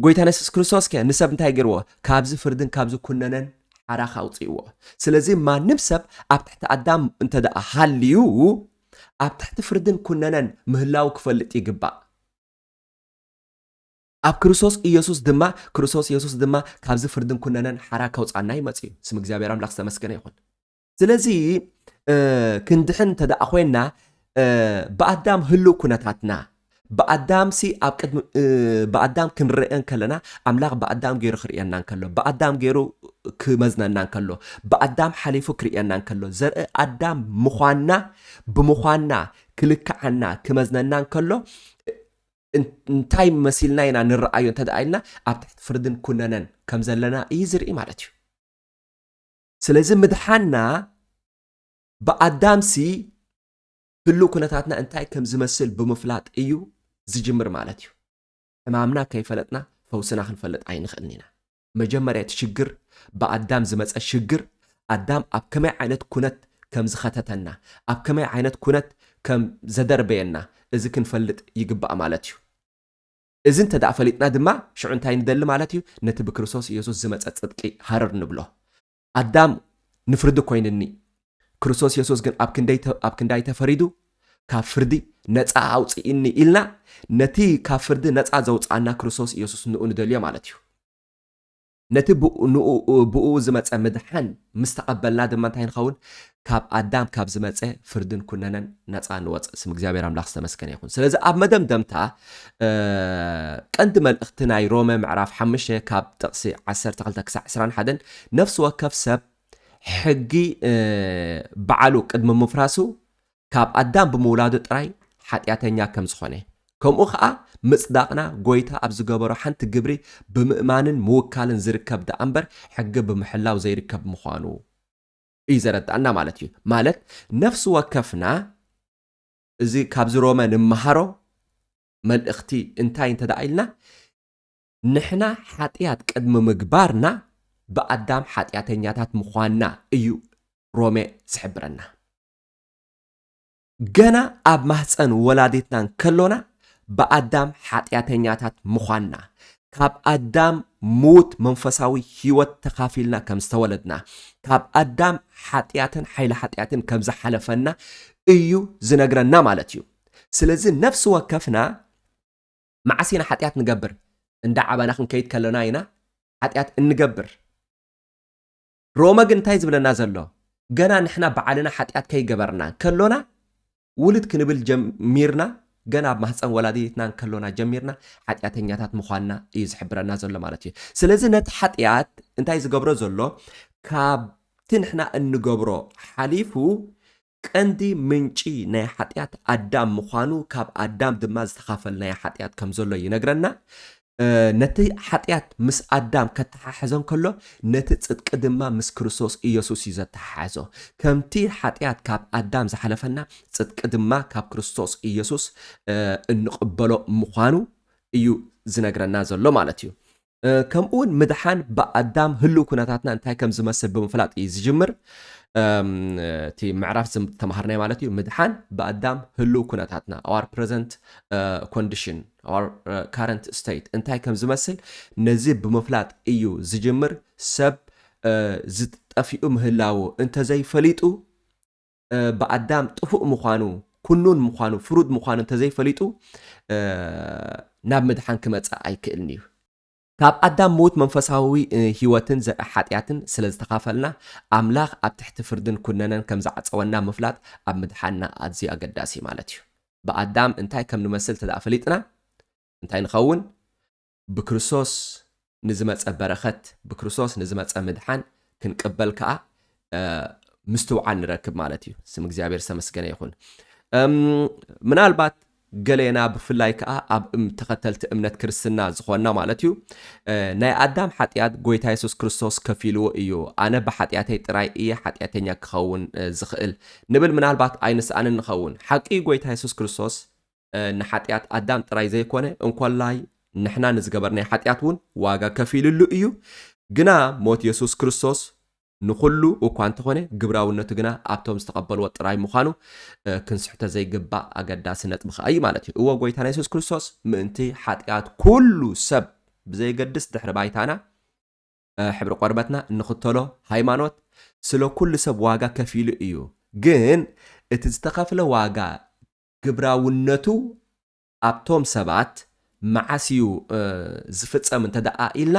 Speaker 2: ጎይታና የሱስ ክርስቶስ ከ ንሰብ እንታይ ገይርዎ ካብዚ ፍርድን ካብዚ ኩነነን ሓራኽ ኣውፅእዎ ስለዚ ማንም ሰብ ኣብ ትሕቲ ኣዳም እንተ ደኣ ሃልዩ ኣብ ትሕቲ ፍርድን ኩነነን ምህላው ክፈልጥ ይግባእ ኣብ ክርስቶስ ኢየሱስ ድማ ክርስቶስ ኢየሱስ ድማ ካብዚ ፍርድን ኩነነን ሓራ ከውፃና እዩ መፅኡ ስም እግዚኣብሔር ኣምላኽ ዝተመስገነ ይኹን ስለዚ ክንድሕን እንተደኣ ኮይና ብኣዳም ህልው ኩነታትና ብኣዳም ሲ ኣብ ቅድሚ ብኣዳም ክንርአ ከለና ኣምላኽ ብኣዳም ገይሩ ክርእየና ከሎ ብኣዳም ገይሩ ክመዝነና ከሎ ብኣዳም ሓሊፉ ክርእየና ከሎ ዘርኢ ኣዳም ምዃንና ብምዃንና ክልክዓና ክመዝነና ከሎ እንታይ መሲልና ኢና ንረኣዮ እንተደኣ ኢልና ኣብ ትሕቲ ፍርድን ኩነነን ከም ዘለና እዩ ዝርኢ ማለት እዩ ስለዚ ምድሓና ብኣዳምሲ ህሉ ኩነታትና እንታይ ከም ዝመስል ብምፍላጥ እዩ ዝጅምር ማለት እዩ ሕማምና ከይፈለጥና ፈውስና ክንፈልጥ ኣይንኽእልን ኢና መጀመርያ እቲ ሽግር ብኣዳም ዝመጸ ሽግር ኣዳም ኣብ ከመይ ዓይነት ኩነት ከም ዝኸተተና ኣብ ከመይ ዓይነት ኩነት ከም ዘደርበየና እዚ ክንፈልጥ ይግባእ ማለት እዩ። እዚ እንተ ፈሊጥና ድማ ሽዑ እንታይ ንደሊ ማለት እዩ ነቲ ብክርስቶስ ኢየሱስ ዝመጸ ጽድቂ ሃረር ንብሎ። ኣዳም ንፍርዲ ኮይንኒ፣ ክርስቶስ የሱስ ግን ኣብ ክንደይ ኣብ ክንዳይ ተፈሪዱ ካብ ፍርዲ ነጻ ኣውጽኢኒ ኢልና ነቲ ካብ ፍርዲ ነጻ ዘውጽኣና ክርስቶስ ኢየሱስ ንኡ ንደልዮ ማለት እዩ። ነቲ ብኡ ዝመጸ ምድሓን ምስ ተቐበልና ድማ እንታይ ንኸውን? ካብ ኣዳም ካብ ዝመጸ ፍርድን ኩነነን ነፃ ንወፅእ ስም እግዚኣብሔር ኣምላኽ ዝተመስገነ ይኹን ስለዚ ኣብ መደምደምታ ቀንዲ መልእኽቲ ናይ ሮመ ምዕራፍ ሓምሽተ ካብ ጥቕሲ 12 ክሳዕ 21 ነፍሲ ወከፍ ሰብ ሕጊ በዓሉ ቅድሚ ምፍራሱ ካብ ኣዳም ብምውላዱ ጥራይ ሓጢኣተኛ ከም ዝኾነ ከምኡ ከዓ ምፅዳቕና ጎይታ ኣብ ዝገበሮ ሓንቲ ግብሪ ብምእማንን ምውካልን ዝርከብ ደኣ እምበር ሕጊ ብምሕላው ዘይርከብ ምዃኑ እዩ ዘረድኣና ማለት እዩ። ማለት ነፍሲ ወከፍና እዚ ካብዚ ሮመ ንመሃሮ መልእኽቲ እንታይ እንተ ደኣ ኢልና ንሕና ሓጢኣት ቅድሚ ምግባርና ብኣዳም ሓጢኣተኛታት ምዃንና እዩ ሮሜ ዝሕብረና። ገና ኣብ ማህጸን ወላዲትና እንከሎና ብኣዳም ሓጢኣተኛታት ምዃንና፣ ካብ ኣዳም ምዉት መንፈሳዊ ህይወት ተኻፊልና ከም ዝተወለድና፣ ካብ ኣዳም ሓጢኣትን ሓይሊ ሓጢኣትን ከም ዝሓለፈና እዩ ዝነግረና ማለት እዩ። ስለዚ ነፍሲ ወከፍና መዓስ ኢና ሓጢኣት ንገብር? እንዳ ዓባና ክንከይድ ከሎና ኢና ሓጢኣት እንገብር። ሮመ ግን እንታይ ዝብለና ዘሎ ገና ንሕና ብዓልና ሓጢኣት ከይገበርና ከሎና ውልድ ክንብል ጀሚርና ገና ኣብ ማህፀን ወላዲትና እንከሎና ጀሚርና ሓጢኣተኛታት ምዃንና እዩ ዝሕብረና ዘሎ ማለት እዩ ስለዚ ነቲ ሓጢኣት እንታይ ዝገብሮ ዘሎ ካብቲ ንሕና እንገብሮ ሓሊፉ ቀንዲ ምንጪ ናይ ሓጢኣት ኣዳም ምዃኑ ካብ ኣዳም ድማ ዝተኻፈልናዮ ሓጢኣት ከም ዘሎ ይነግረና። ነቲ ሓጢኣት ምስ ኣዳም ከተሓሕዞ እንከሎ ነቲ ጽድቂ ድማ ምስ ክርስቶስ ኢየሱስ እዩ ዘተሓሓዞ። ከምቲ ሓጢኣት ካብ ኣዳም ዝሓለፈና ጽድቂ ድማ ካብ ክርስቶስ ኢየሱስ እንቕበሎ ምዃኑ እዩ ዝነግረና ዘሎ ማለት እዩ። ከምኡውን ምድሓን ብኣዳም ህልው ኩነታትና እንታይ ከም ዝመስል ብምፍላጥ እዩ ዝጅምር እቲ ምዕራፍ ዝተምሃርናይ ማለት እዩ ምድሓን ብኣዳም ህልው ኩነታትና ኣዋር ፕረዘንት ኮንዲሽን ኣዋር ካረንት ስቴት እንታይ ከም ዝመስል ነዚ ብምፍላጥ እዩ ዝጅምር ሰብ ዝጠፊኡ ምህላዎ እንተዘይፈሊጡ ብኣዳም ጥፉእ ምዃኑ ኩኑን ምዃኑ ፍሩድ ምዃኑ እንተዘይፈሊጡ ናብ ምድሓን ክመጽእ ኣይክእልን እዩ። ካብ ኣዳም ምዉት መንፈሳዊ ህይወትን ዘርኢ ሓጢኣትን ስለ ዝተኻፈልና ኣምላኽ ኣብ ትሕቲ ፍርድን ኩነነን ከም ዝዓጸወና ምፍላጥ ኣብ ምድሓንና ኣዝዩ ኣገዳሲ ማለት እዩ። ብኣዳም እንታይ ከም ንመስል እንተደኣ ፈሊጥና እንታይ ንኸውን? ብክርስቶስ ንዝመጸ በረኸት፣ ብክርስቶስ ንዝመጸ ምድሓን ክንቅበል ከኣ ምስትውዓል ንረክብ ማለት እዩ። ስም እግዚኣብሔር ዝተመስገነ ይኹን። ምናልባት ገሌና ብፍላይ ከዓ ኣብ ተኸተልቲ እምነት ክርስትና ዝኾንና ማለት እዩ ናይ ኣዳም ሓጢኣት ጎይታ የሱስ ክርስቶስ ከፊልዎ እዩ ኣነ ብሓጢኣተይ ጥራይ እየ ሓጢኣተኛ ክኸውን ዝኽእል ንብል ምናልባት ኣይንስኣንን ንኸውን ሓቂ ጎይታ የሱስ ክርስቶስ ንሓጢኣት ኣዳም ጥራይ ዘይኰነ፣ እንኮላይ ንሕና ንዝገበርናዮ ሓጢኣት እውን ዋጋ ከፊሉሉ እዩ። ግና ሞት የሱስ ክርስቶስ ንዅሉ እኳ እንተዀነ፣ ግብራውነቱ ግና ኣብቶም ዝተቐበልዎ ጥራይ ምዃኑ ክንስሕቶ ዘይግባእ ኣገዳሲ ነጥቢ ኸኣ እዩ ማለት እዩ። እወ፣ ጐይታና የሱስ ክርስቶስ ምእንቲ ሓጢኣት ኵሉ ሰብ ብዘየገድስ ድሕሪ ባይታና፣ ሕብሪ ቈርበትና፣ እንኽተሎ ሃይማኖት፣ ስለ ኵሉ ሰብ ዋጋ ከፊሉ እዩ። ግን እቲ ዝተኸፍለ ዋጋ ግብራውነቱ ኣብቶም ሰባት መዓስ እዩ ዝፍጸም እንተደኣ ኢልና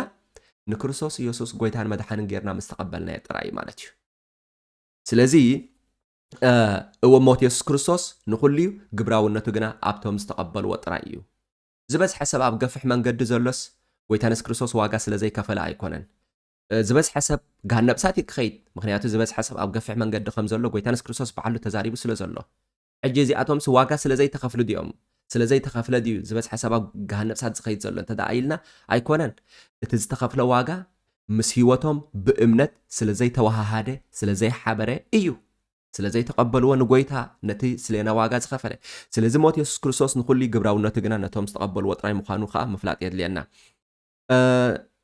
Speaker 2: ንክርስቶስ ኢየሱስ ጎይታን መድሓንን ጌርና ምስ ተቐበልናዮ ጥራይ እዩ ማለት እዩ። ስለዚ እወ ሞት የሱስ ክርስቶስ ንኹሉ እዩ፣ ግብራውነቱ ግና ኣብቶም ዝተቐበልዎ ጥራይ እዩ። ዝበዝሐ ሰብ ኣብ ገፍሕ መንገዲ ዘሎስ ጎይታ የሱስ ክርስቶስ ዋጋ ስለ ዘይከፈለ ኣይኮነን። ዝበዝሐ ሰብ ገሃነብ እሳት እዩ ክኸይድ፣ ምክንያቱ ዝበዝሐ ሰብ ኣብ ገፍሕ መንገዲ ከም ዘሎ ጎይታ የሱስ ክርስቶስ ባዕሉ ተዛሪቡ ስለ ዘሎ። ሕጂ እዚኣቶምስ ዋጋ ስለ ዘይተኸፍሉ ድዮም ስለ ዘይተኸፍለ ድዩ ዝበዝሐ ሰብ ኣብ ገሃነብ እሳት ዝኸይድ ዘሎ እንተድኣ ኢልና ኣይኮነን እቲ ዝተኸፍለ ዋጋ ምስ ህይወቶም ብእምነት ስለ ዘይተወሃሃደ ስለ ዘይሓበረ እዩ ስለ ዘይተቐበልዎ ንጎይታ ነቲ ስሌና ዋጋ ዝኸፈለ ስለዚ ሞት የሱስ ክርስቶስ ንኹሉ እዩ ግብራውነቱ ግና ነቶም ዝተቐበልዎ ጥራይ ምዃኑ ከኣ ምፍላጥ የድልየና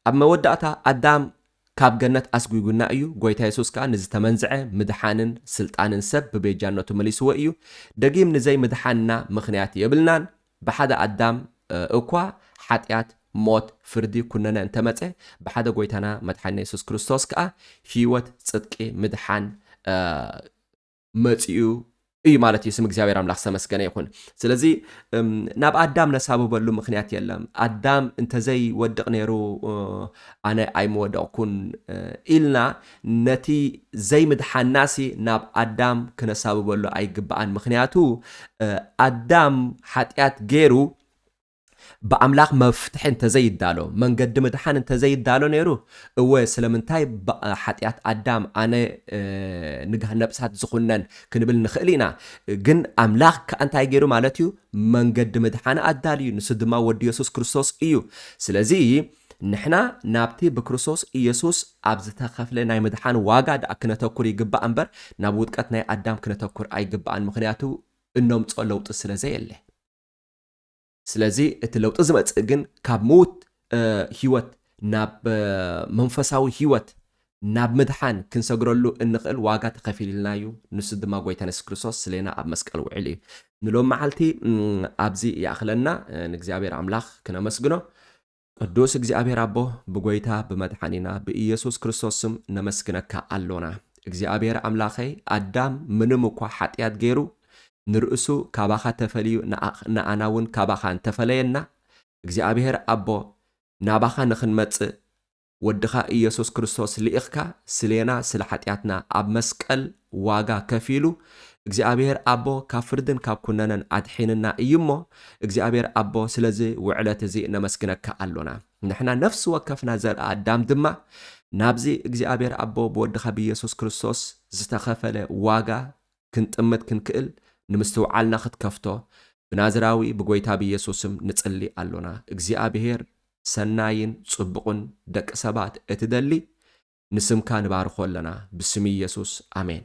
Speaker 2: ኣብ መወዳእታ ኣዳም ካብ ገነት ኣስጒጉና እዩ፣ ጐይታ የሱስ ከኣ ንዝተመንዝዐ ምድሓንን ስልጣንን ሰብ ብቤጃነቱ መሊስዎ እዩ። ደጊም ንዘይምድሓንና ምኽንያት የብልናን። ብሓደ ኣዳም እኳ ሓጢኣት፣ ሞት፣ ፍርዲ፣ ኵነነ እንተ መጸ፣ ብሓደ ጐይታና መድሓኒና የሱስ ክርስቶስ ከኣ ህይወት፣ ጽድቂ፣ ምድሓን፣ መጺኡ እዩ ማለት እዩ። ስም እግዚኣብሔር ኣምላኽ ዝተመስገነ ይኹን። ስለዚ ናብ ኣዳም ነሳብበሉ ምክንያት የለን። ኣዳም እንተዘይ ወድቕ ነይሩ ኣነ ኣይምወደቕኩን ኢልና ነቲ ዘይምድሓናሲ ናብ ኣዳም ክነሳብበሉ ኣይግባኣን። ምክንያቱ ኣዳም ሓጢኣት ገይሩ ብኣምላኽ መፍትሒ እንተዘይዳሎ፣ መንገዲ ምድሓን እንተዘይዳሎ ነይሩ፣ እወ ስለምንታይ ብሓጢኣት ኣዳም ኣነ ንግሃን ነብሳት ዝኹነን ክንብል ንኽእል ኢና። ግን ኣምላኽ ከኣ እንታይ ገይሩ ማለት እዩ? መንገዲ ምድሓን ኣዳልዩ፣ ንሱ ድማ ወዱ የሱስ ክርስቶስ እዩ። ስለዚ ንሕና ናብቲ ብክርስቶስ ኢየሱስ ኣብ ዝተኸፍለ ናይ ምድሓን ዋጋ ደኣ ክነተኩር ይግባእ እምበር ናብ ውድቀት ናይ ኣዳም ክነተኩር ኣይግባእን፣ ምኽንያቱ እነምጾ ለውጢ ስለ ዘየለ። ስለዚ እቲ ለውጢ ዝመጽእ ግን ካብ ምዉት ህይወት ናብ መንፈሳዊ ህይወት ናብ ምድሓን ክንሰግረሉ እንኽእል ዋጋ ተኸፊሉልና እዩ ንሱ ድማ ጎይታን የሱስ ክርስቶስ ስሌና ኣብ መስቀል ውዒሉ እዩ ንሎም መዓልቲ ኣብዚ ይኣኽለና ንእግዚኣብሔር ኣምላኽ ክነመስግኖ ቅዱስ እግዚኣብሔር ኣቦ ብጎይታ ብመድሓኒና ብኢየሱስ ክርስቶስ ስም ነመስግነካ ኣሎና እግዚኣብሔር ኣምላኸይ ኣዳም ምንም እኳ ሓጥያት ገይሩ ንርእሱ ካባኻ ተፈልዩ ንኣና እውን ካባኻ እንተፈለየና እግዚኣብሔር ኣቦ ናባኻ ንኽንመጽእ ወድኻ ኢየሱስ ክርስቶስ ልኢኽካ ስሌና ስለ ሓጥያትና ኣብ መስቀል ዋጋ ከፊሉ እግዚኣብሔር ኣቦ ካብ ፍርድን ካብ ኩነነን ኣድሒንና እዩ እሞ እግዚኣብሔር ኣቦ ስለዚ ውዕለት እዚ ነመስግነካ ኣሎና ንሕና ነፍሲ ወከፍና ዘርኢ ኣዳም ድማ ናብዚ እግዚኣብሔር ኣቦ ብወድኻ ብኢየሱስ ክርስቶስ ዝተኸፈለ ዋጋ ክንጥምት ክንክእል ንምስትውዓልና ክትከፍቶ ብናዝራዊ ብጎይታ ብኢየሱስም ንጽሊ ኣሎና እግዚኣብሔር ሰናይን ጽቡቕን ደቂ ሰባት እትደሊ ንስምካ ንባርኮ ኣለና ብስም ኢየሱስ ኣሜን።